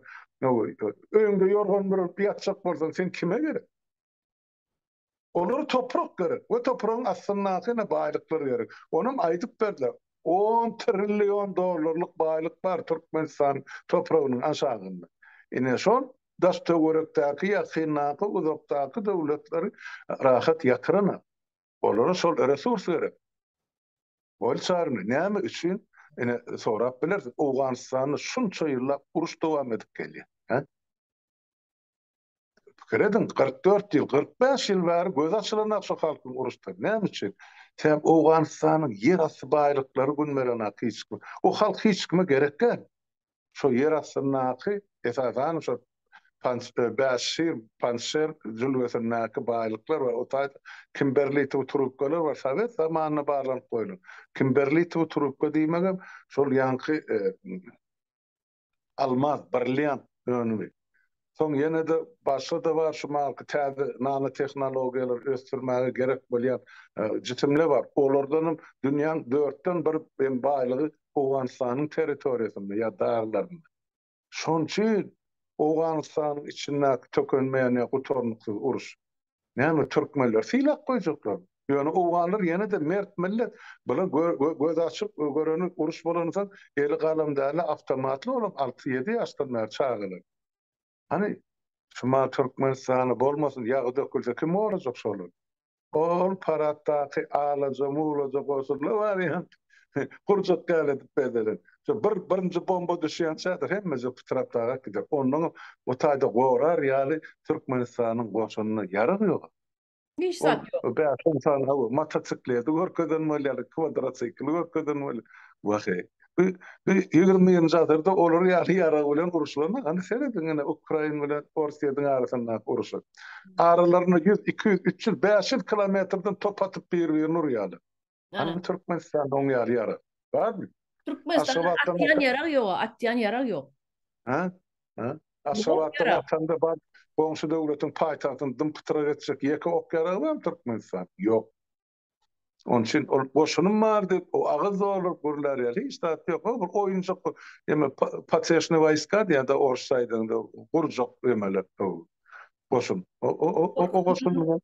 öýüňde ýorgan büregip ýatjak bolsaň, sen kime gerek? Olara toprak gerek we topragyň astyndaky ine baýlyklar gerek. Onam aýdyp berdiler. On trillion dollarlyk baýlyk bar Türkmenistanyň topragynyň aşagynda. Ine şol daş-töwerekdäki, ýakyndaky, uzakdaky döwletleri rahat ýatyranok. Olara şol resurs gerek. Ol çaryny näme üçin ine sorap bilersiň. Owganystanda şunça ýyllap uruş dowam edip gelýär. Hä? Pikir ediň, 44 ýyl, 45 ýyl bäri gözi açylanok şu halkyň uruşdan. Näme üçin? Sebäbi Owganystanyň ýerasty baýlyklary günbelena hiç kim. O halk hiç kime gerek däl. Şo ýer astyndaky, esasan, şo Panç, Bäş şir, Pançşer jülgesindäki baýlyklar we o taýda kimberlitow trubkalar bar. Sowet zamanynda barlanyp goýlan. Kimberlitow trubka diýmegem şol ýaňky almaz, brilliant önümi. Soň ýene-de başga-da bar şu maňky täze nanotehnologiýalary ösdürmäge gerek bolýan jisimle bar. Olardanam dünýäň dörtden bir hem baýlygy Owganystanyň territoriýasynda ýa daglarynda. Şonçy Owganystanyň içindäki tökenmeýän ýa gutarnyksyz uruş. Näme türkmenler sylak goýjaklarmy? Ýöne owganlar ýene-de mert millet. Bula gözi açyk göreni uruş bolany soň eli galam dälä awtomatly olam alty ýedi ýaşdan bäri çagalar. Hany Şumal Türkmenistany bolmasyn ýagy dökülse kim gorajak şolary. Ol paratdaky alaja mulaja goşuldy wary. Gurjak gal edip bezelen. Şo bir birinji bomba düşýänçädir hemmeje pytrap daga gider. Onnoňam o taýda gorar ýaly Türkmenistanyň goşunynda ýarag ýog-a. Hiç zat ýok. Ol bäş-on sany hawa motosikleti görkezen bolýarlar, kwadrosikli görkezen bolýar. Waheý. Bu bu ýigrimi birinji asyrda olar ýaly ýarag bilen uruşylanok. Hany serediň ine Ukraina bilen Orsýetiň arasyndaky uruşa. Aralarynda ýüz, iki ýüz, üç ýüz, bäş ýüz kilometrden top atyp bir-birini urýarlar. Hany bu Türkmenistanda oň ýaly ýarag barmy? Türkmenistanda atýan ýarag ýog, atýan ýarag ýok. Hä? Hä? Aşgabatdan atanda bar, goňşy döwletiň paýtagtyny dym-pytrak etjek ýeke ok ýaragy barmy Türkmenistanda? Ýok. Onuň üçin ol goşunym bar diýip, o agyz dolduryp gürlär ýaly hiç zat ýok. O bir oýunjak eme poteşne waýska diýýärdi orsça aýdanda, gurjak emeler goşun. O goşun bilen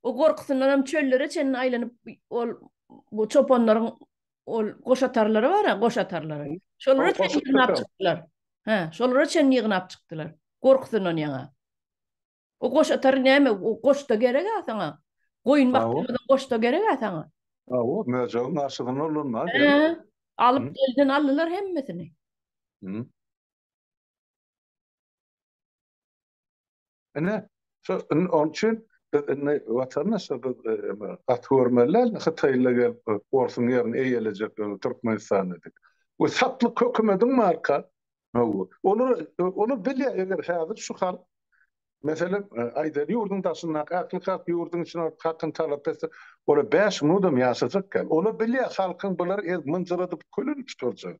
O gorkusyndan hem çöllere çenli aýlanyp ol bu çopanlaryň ol goşatarlary bar ha, goşatarlary. Şolara çenli ýygnap çykdylar. Ha, şolara çenli ýygnap çykdylar. Gorkusyndan ýaňa. O goşatar näme? O goşda gerek ha saňa. Goýun bakdyrmadan goşda gerek ha saňa. Ha, o möjegiň aşygyny olanlar. Ha, alyp elden aldylar hemmesini. Hı. Ine, şu onuň üçin biz indi watandaşlar biz gaty görmeliler, hytaýlylar gelip orsuň ýerini eýelejek öňi Türkmenistan dedik. Bu satlyk hökümediň marka. Hawa. Olar olar bilýär eger häzir şu halk Meselem, aýdaly ýurduň daşyndaky ähli halk ýurduň içine hakyny talap etse, olar bäş minudam ýaşajak däl. Olar bilýär halkyň bulary ez mynjyradyp kölün tuturjak.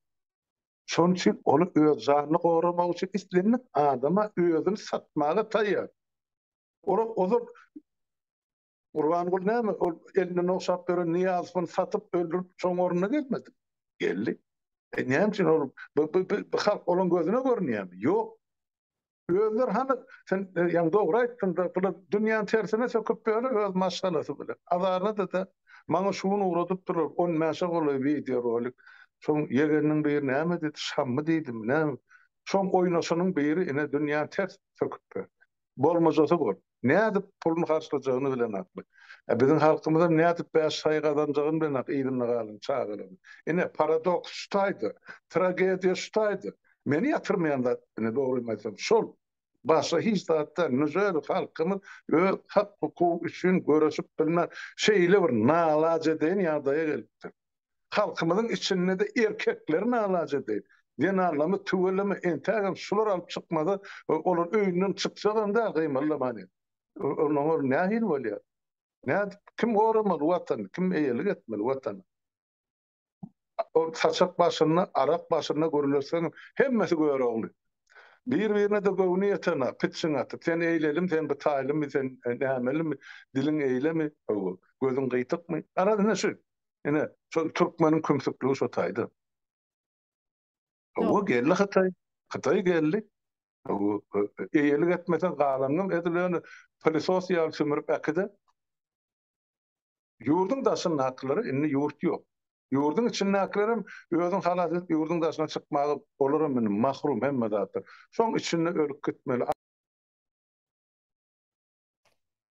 Şonuň üçin ol öz janyny goramak üçin islendik adama özüni satmaga taýýar. Ol ozal Gurbanguly näme, ol elinden ogşap beren Nyýazowany satyp, öldürip, şoň ornuna gelmedimi? Geldi. E, näme üçin ol, bu, bu, bu halk olaň gözüne görünýärmi? Ýok. Özler hany sen ýaňy dogry aýtdyňda bular dünýäni tersine söküp ýöne öz maşgalasy bilen. Azaradada maňa şu gün ugradypdylar on bäşe golaý wideo rolik. Şoň ýegeniniň biri näme diýdi şammy diýdimi näme. Şoň oýnaşanyň biri ine dünýäni ters söküp ýör. Bolmajasy bor. nädip puluny harçlajagyny bilenakmy? Ä biziň halkymyzam nädip bäş saýy gazanjagyny bilenak yzynda galan çagalaryň. Ine, paradoks şu taýda, tragediýa şu taýda. Meni ýatyrmaýan zat, ine, dogrymy aýtsam, şol. Başga hiç zat däl, nüzer halkymyz öz hak-hukugy üçin göreşip bilmän, şeýle bir nalajedeýin ýagdaýa gelipdir. Halkymyzyň içinde-de erkekler nalajady. Zenanlarymyz tüweleme entägem şular alyp çykmaza olar öýünden çykjagam däl gymyldamany. Onda olar nähili bolýar? Nädip, kim goramaly Watany, kim eýelik etmeli Watana? Ol saçak başynda, arak başynda gürleşseň hemmesi Görogly. Bir-birine-de göwni ýetena, pitjiň atyp, sen eýlelimi, sen gytaýlymy, sen nämelimi, diliň eýlemi, hawa, gözüň gytykmy? Garaz ine şu. Ine, şol türkmeniň kümsükligi şo taýda. Owa geldi Hytaý. Hytaý geldi. Owa, eýelik etmese galanyňam edil ýöne pylysos ýaly sümürip äkide. Ýurduň daşyndakylary indi ýurt ýok. Ýurduň içindäkilerem özüň halas edip ýurduň daşyna çykmaga olaram indi mahrum hemme zatdan. Şoň içinde ölüp gitmeli.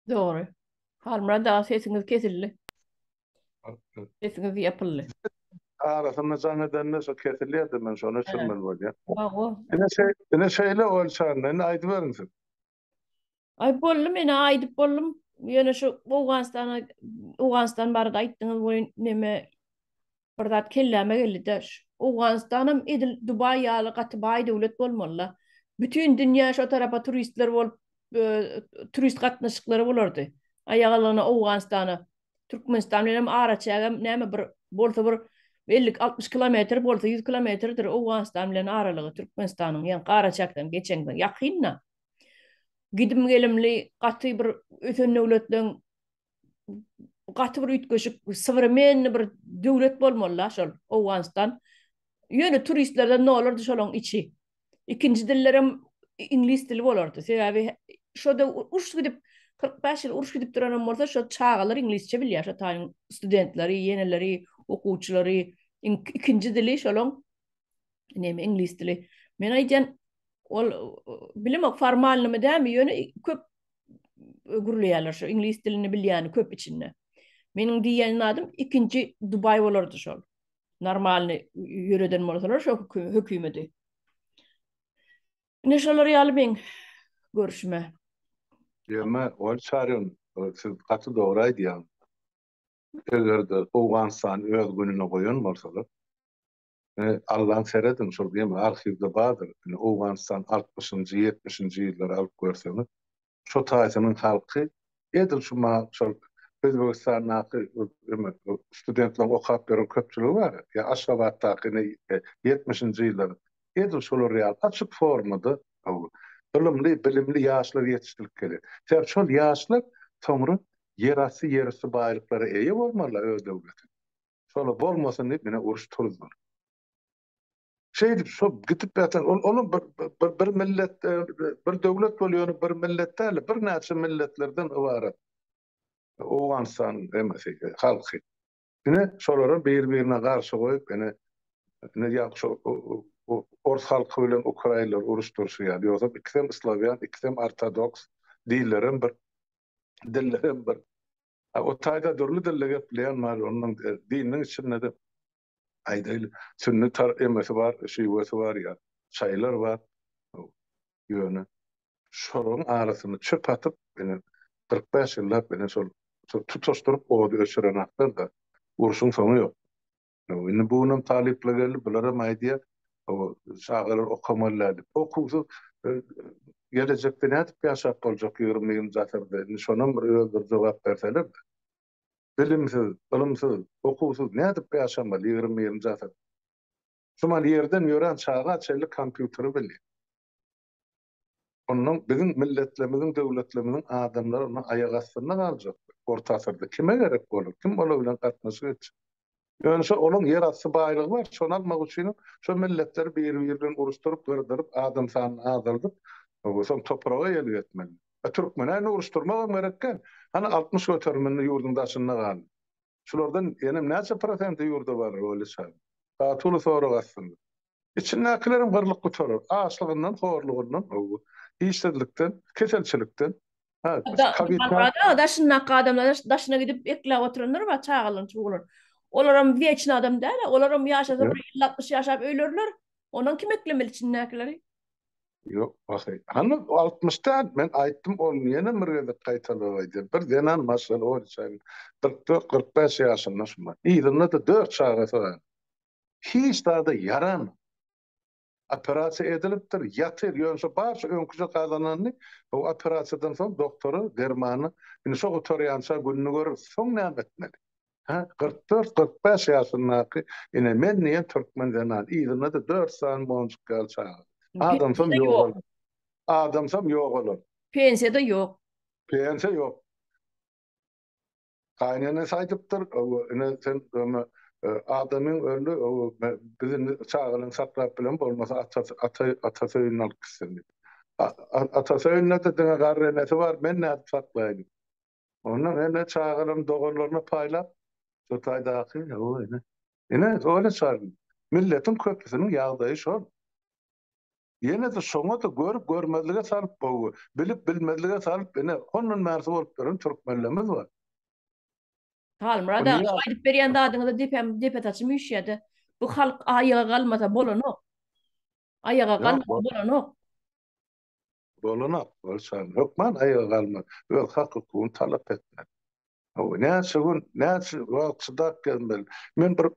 Dogry. Halmyrat aga sesiňiz kesildi. Sesiňiz ýapyldy. Arasynda jaň edende şo kesilýärdi men şony öçürmeli bolýar. Hawa. Ine şeý, ine şeýle ol şanda indi aýdyberiň siz. Ay boldy men aýdyp boldum. Ýöne şu Owganystana Owganystan barada aýtdyňyz we neme Bir zat kelläme geldi-de, şu Owganystanam edil Dubaý ýaly gaty baý döwlet bolmaly-la. Bütin dünýä şo tarapa turistler bolup, turist gatnaşyklary bolardy. Aýagalygyna Owganystana, Türkmenistan bilenem araçägem näme bir bolsa bir elli, altmyş kilometr bolsa, ýüz kilometrdir Owganystan bilen aralygy Türkmenistanyň, ýaňky araçäkden geçeňde, ýakyn-da. Gidim-gelimli gaty bir ösen döwletleň gaty bir üýtgeşik sowremenniý bir döwlet bolmaly-la şol Owganystan. Ýöne turistlerden nolardy şolaň içi. Ikinji dillerem iňlis dili bolardy. Sebäbi şoda uruş gidip 45 ýyl uruş gidip duranam bolsa şo çagalar iňlisçe bilýär şo taýyň studentleri, ýeneleri, okuwçylary ikinji dili şolaň neme iňlis dili. Men aýdýan ol bilemok formalnymy dämi ýöne köp gürleýärler şu iňlis dilini bilýäni köp içinde. Meniň diýen adym ikinji Dubaý bolardy şol. Normalny ýöreden bolsalar şu hökümeti. Ne şolar ýaly men görüşme. Ýöme ol çaryn siz gaty dogry aýdýaň. Eger-de Owganystan öz gününe goýan bolsalar, Ine, allan serediň, şol gemi arhiwde bardyr. Ine, Owganystan altmyşynjy, ýetmişinji ýyllary alyp görseňiz, şo taýsynyň halky edil şu ma şol Özbegistandaky eme studentleriň okap ýören köpçüligi bar ya, ýa Aşgabatdaky ine ýetmişinji ýyllary edil şolar ýaly açyk formada bu ylymly, bilimli ýaşlar ýetişdirip gelýär. Sebäbi şol ýaşlar soňra ýerasty, ýerüsti baýlyklara eýe bolmalylar öz döwletinde. Şola bolmasyn diýip ine uruş turuzdylar. Şeýdip şo gitip ýatan ol olam bir bir bir millet bir döwlet bolýan bir millet däl bir näçe milletlerden ybarat. Owganystan emesi halky. Ine şolary bir birine garşy goýup ine ine ýa şo ors halky bilen ukraýlar uruş turşy ýaly ýogsa ikisem islawýan ikisem ortodoks dillerem bir dillerem bir. A o taýda dürli dilde gepleýän bar, onuň dininiň içinde-de aýdaýly sünni tar emesi bar, şiwesi bar ýa şaýylar bar. Ýöne şolaryň arasyna çöp atyp, ine, kyrk bäş ýyllap, ine, şol tutaşdyryp ody öçüren hakda-da urşuň soňy ýok. Indi bu günüm talyplar geldi, bularam aýdýar, o çagalar okamaly däl diýip. Okuwsyz gelejekde nädip ýaşap boljak ýigrimi birinji asyrda? Indi şonam bir öz bir jogap berseler-de. Bilimsiz, ylymsyz, okuwsyz nädip ýaşamaly ýigrimi birinji asyrda? Şumal ýerden ýören çaga çenli kompýuteri bilýär. Ondan biziň milletlerimiziň, döwletlerimiziň adamlary ondan aýak astynda galjakdyr. Orta asyrda kime gerek bolar, kim olar bilen gatnaşyk etjek? Ýöne şo olaň ýer asty baýlygy bar, şony almak üçin şo milletleri biri-biri bilen uruşdyryp, gyrdyryp, adam sanyny azaldyp, soň topraga elgetmeli. Türkmene indi uruşdyrmak hem gerek däl. Hany altmyş göteriminde ýurduň daşynda galdy. Şulardan enem näçe prosenti ýurda barar Weli şahyr? Gaty uly sorag aslynda. Içindäkilerem gyrlyp gutarar. Açlygyndan, horlugyndan, howwa, işsizlikden, keselçilikden. Hä, tabipler. Ada şundaky adamlar daşyna gidip ekläp oturanlar bar, çagalaryny çuwalar. Olaram wieçni adam däl-ä. Olaram ýaşasa bir elli-altmyş ýaşap öýlerler. Ondan kim eklemeli içindäkileri? Ýok, pahyr. Hany altmyş däl, men aýtdym, ol ýene bir gezek gaýtalap aýdýar. Bir zenan maşgala bolýar, kyrk dört, kyrk bäş ýaşynda şumat. Yzynda-da dört çagasy bar. Hiç zada ýaranok. Operasiýa edilipdir, ýatyr, ýöne şu barşy öňküje gazananyny bu operasiýadan soň doktora dermany, indi şo gutarýança gününi göreris. Soň näme etmeli? Hä, kyrk dört-kyrk bäş ýaşyndaky ine men diýen türkmen zenan, yzynda-da dört sany monjuk ýaly çaga. Adamsam ýok olar. Adamsam ýok olar. Pensiýa-da ýok. Pensiýa ýok. Gaýynenesi aýdypdyr, hawa, ine sen öňe adamyň öldi, hawa, biz indi çagalaryňy saklap bilemok, bolmasa atasy, atasy öýüne alyp gitsin diýip. Atasy öýünde-de diňe garry enesi bar, men nädip saklaýyn? Onda hemme çagalaryň doganlaryna paýlap, şo taýdaky, hawa, ine. Ine, öýle çaryň. Milletiň köpüsiniň ýagdaýy şol. Ýene-de şoňa-da görüp-görmezlige salyp, gowy, bilip-bilmezlige salyp, ine, hondan bärsi bolup duran türkmenlerimiz bar. Halmyrat aga, şo aýdyp berýän zadyňyza depäm, depe saçym üýşýär-de. Bu halk aýaga galmasa bolanok. Aýaga galmasa bolanok. Dolanok bolsaň, hökman aýaga galmak, öz hak-hukugyny talap etmek. Hawa, näçe gün, näçe wagt çydap gezmeli? Men bir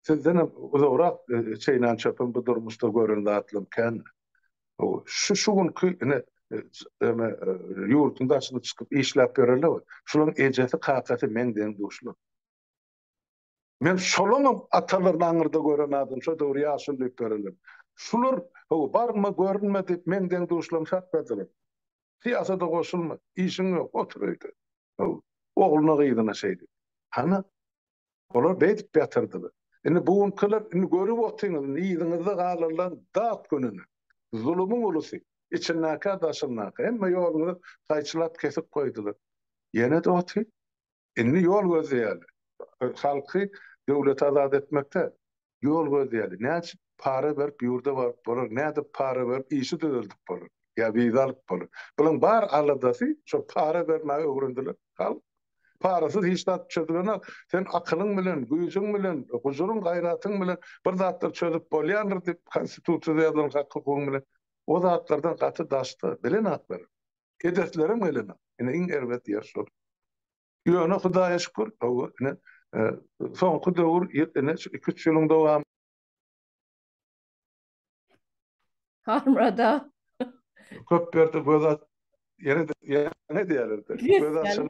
sizdenem uzagrak çeýnän çöpüm bu durmuşda gören zatlarym kän. Hawa, şu şu günki ine eme ýurduň daşyna çykyp işläp ýörenler bar. Şularyň ejesi, kakasy meň deň-duşlar. Men şolaňam atalaryny aňyrda gören adam, şo döwür ýaşuly diýip görenler. Şular, hawa, barma, görünme diýip, meň deň-duşlarym saklardylar. Syýasata goşulma, işiň ýok, otur öýde. Hawa, ogluna-gyzyna şeýdip. Hany, olar beýdip ýatyrdylar. Indi bu günkiler, indi görüp otyňyz, indi yzyňyzda galarlaň dat gününe. Zulumyň ulusy, içindäkä-daşyndakä, hemme ýoluňyzy gaýçylap kesip goýdular. Ýene-de otyr. Indi ýol gözleýärler. Halky döwleti azat etmekde ýol gözleýärler. Näçe para berip ýurda baryp bolar, nädip para berip işi düzeldip bolar, ýa wiza alyp bolar. Bularyň bar aladasy şo para bermäge öwrendiler. Halk parasyz hiç zat çözülenok. Sen akylyň bilen, güýjüň bilen, gujuryň, gaýratyň bilen bir zatlar çözüp bolýandyr diýip, konstitusiýada ýazylan hak-hukugyň bilen o zatlardan gaty daşda, bilenok biri. Edeslerem gelenok. Ine iň erbet ýer şol. Ýöne Hudaýa şükür, hawa, ine soňky döwür ýetene şu iki üç ýylyň dowamy. Halmyrada. Köp ýerde göz aç, ýene ýene diýerler. Göz açyl.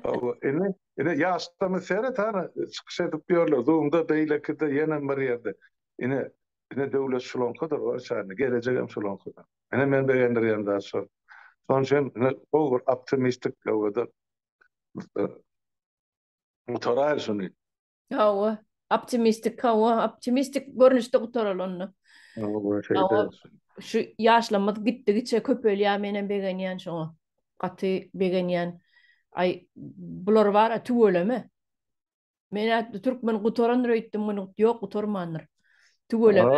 Hawa, ine, ine ýaşlarymy seret hana çykyş edip ýörler. Zoomda beýlekide ýene bir ýerde. Ine, ine döwlet şulaňkadyr, o şäherde gelejegem şulaňkadyr. Ine meni begendirýän zat şo. Şonuň üçin ine gowy bir optimistik howada gutaraýyl şuny. Hawa, optimistik hawa, optimistik görnüşde gutaraly onda. Hawa, şeýle. Şu ýaşlarymyz gitdigiçe köpelýär, men hem begenýän şoňa. Gaty begenýän. Aý, bular bar-a tüweleme. Men ätdi türkmen gutarandyr öýtdüm, ýok gutarmandyr. Tüweleme.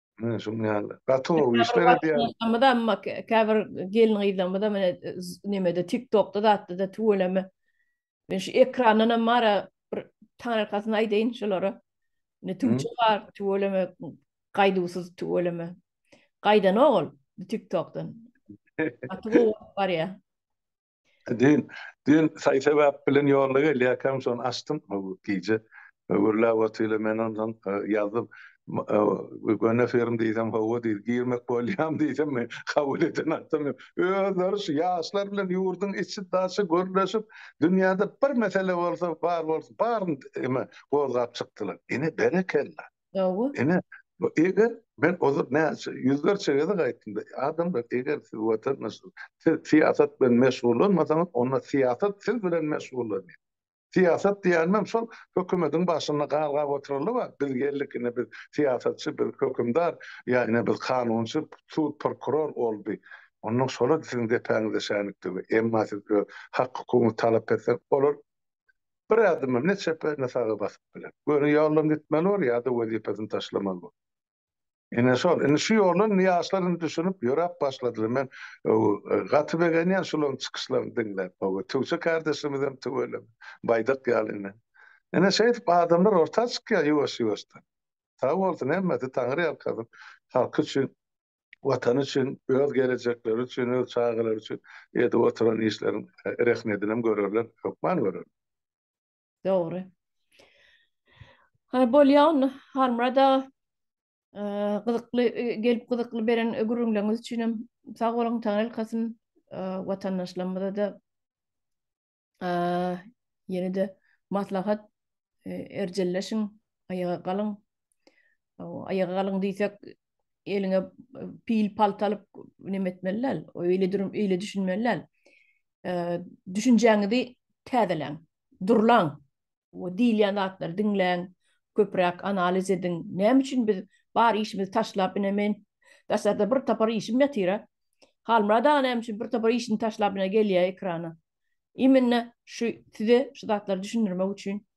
Hä, şuň ýaly. Gaty gowy işler edýär. Gaty amma käbir gelin-gyzlarymyzam ine nemede TikTokda zatda-da tüweleme. Men şu ekrandan hem mara bir taňyrkasyny aýdaýyn şolara. Ne tüwçe bar, tüweleme, gaýduwsyz tüweleme. Gaýdanok ol TikTokdan. Gaty gowy bolup barýar. Düýn, düýn saý-sebäp bilen ýolda gelýärkäm, şony açdym, gije gürläp otyla, men onsoň ýazdym, göni firm diýsem, hawa diýdi, girmek bolýam diýsem, men kabul eden adam ýok. Özleri şu ýaşlar bilen ýurduň içi-daşy gürleşip, dünýäde bir mesele bolsa, bar bolsa, baryny gozgap çykdylar. Ine, berekella! Gowy. Ene, bu eger men ozal näçe ýüzlerçe gezek aýtdym, adamlar eger siz watandaş, siz syýasat bilen meşgullanmasaňyz, onda syýasat siz bilen meşgullanýar. Syýasat diýenimem şol hökümediň başynda galgap oturanlar bar, biz geldik ine biz syýasatçy, biz hökümdar, ýa ine biz kanunçy, sud, prokuror boldy. Onda şolar siziň depäňize şänik döwer. Emma siz öz hak-hukugyňyzy talap etseňiz, olar Bir ädimem ne çepe, ne saga basyp biler. Göni ýoldan gitmeli bor, ýa-da wezipesini taşlamaly bor. Ine şol. Indi şu ýola indi ýaşlar indi düşünip, ýöräp başladylar. Men gaty begenýän şularyň çykyşlaryny diňläp. Hawa, Tüwçe kardeşimizem tüweleme, baýdak ýaly ine. Ine şeýdip adamlar orta çykýar ýuwaş-ýuwaşdan. Sag bolsun hemmesi, Taňry ýalkasyn halky üçin Watany üçin, öz gelejekleri üçin, öz çagalary üçin edip oturan işleriň rehmedinem görerler, hökman görerler. Dogry. Haý bolýa onda Halmyrat aga. Gyzykly gelip gyzykly beren gürrüňleriňiz üçinem sag boluň, taňyrylkasyn. Watandaşlarymyza-da Ýene-de maslahat erjelleşiň, aýaga galyň. Aýaga galyň diýsek, eliňe pil palta alyp neme etmeli däl. Öýle durum, öýle düşünmeli däl. Düşünjäňizi täzeleň, durlaň. Bu diýilýän zatlary diňläň, köpräk analiz ediň. Näme üçin biz bar işimizi taşlap, ine men daşarda bir tapar işim ýatyr-a. Halmyrat aga näme üçin bir tapar işini taşlap ine gelýär ekrana. Immine şu size şu zatlary düşündirmek üçin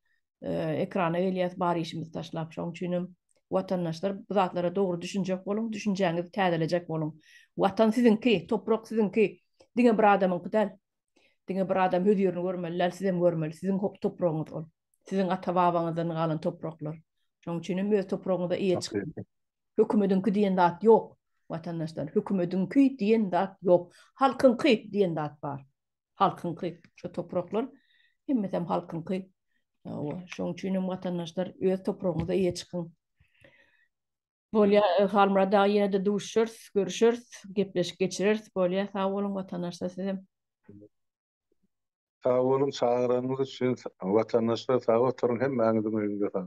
ekrana gelýäs bar işimizi taşlap. Şonuň üçin hem watandaşlar bu zatlara dogry düşünjek boluň, düşünjäňizi täzelejek boluň. Watan siziňki, toprak siziňki. Diňe bir adamyňky däl. Diňe bir adam öz ýerini görmeli däl, siz hem görmeli. Siziň topragyňyz ol. Siziň ata-babaňyzdan galan topraklar. Şonuň üçin hem öz topragyňyza eýe çykyň. Hökümediňki diýen zat ýok, watandaşlar. Hökümediňki diýen zat ýok. Halkyňky diýen zat bar. Halkyňky. Şu topraklar hemmesi hem halkyňky. Hawa, şonuň üçin hem watandaşlar öz topragyňyza eýe çykyň. Bolýa Halmyrat aga ýene-de duşuşarys, görüşeris, gepleşik geçireris. Bolýa sag boluň watandaşlar sizem. Sag boluň çagyranyňyz üçin watandaşlar sag oturyň hemmäňiziň öýüňde sag.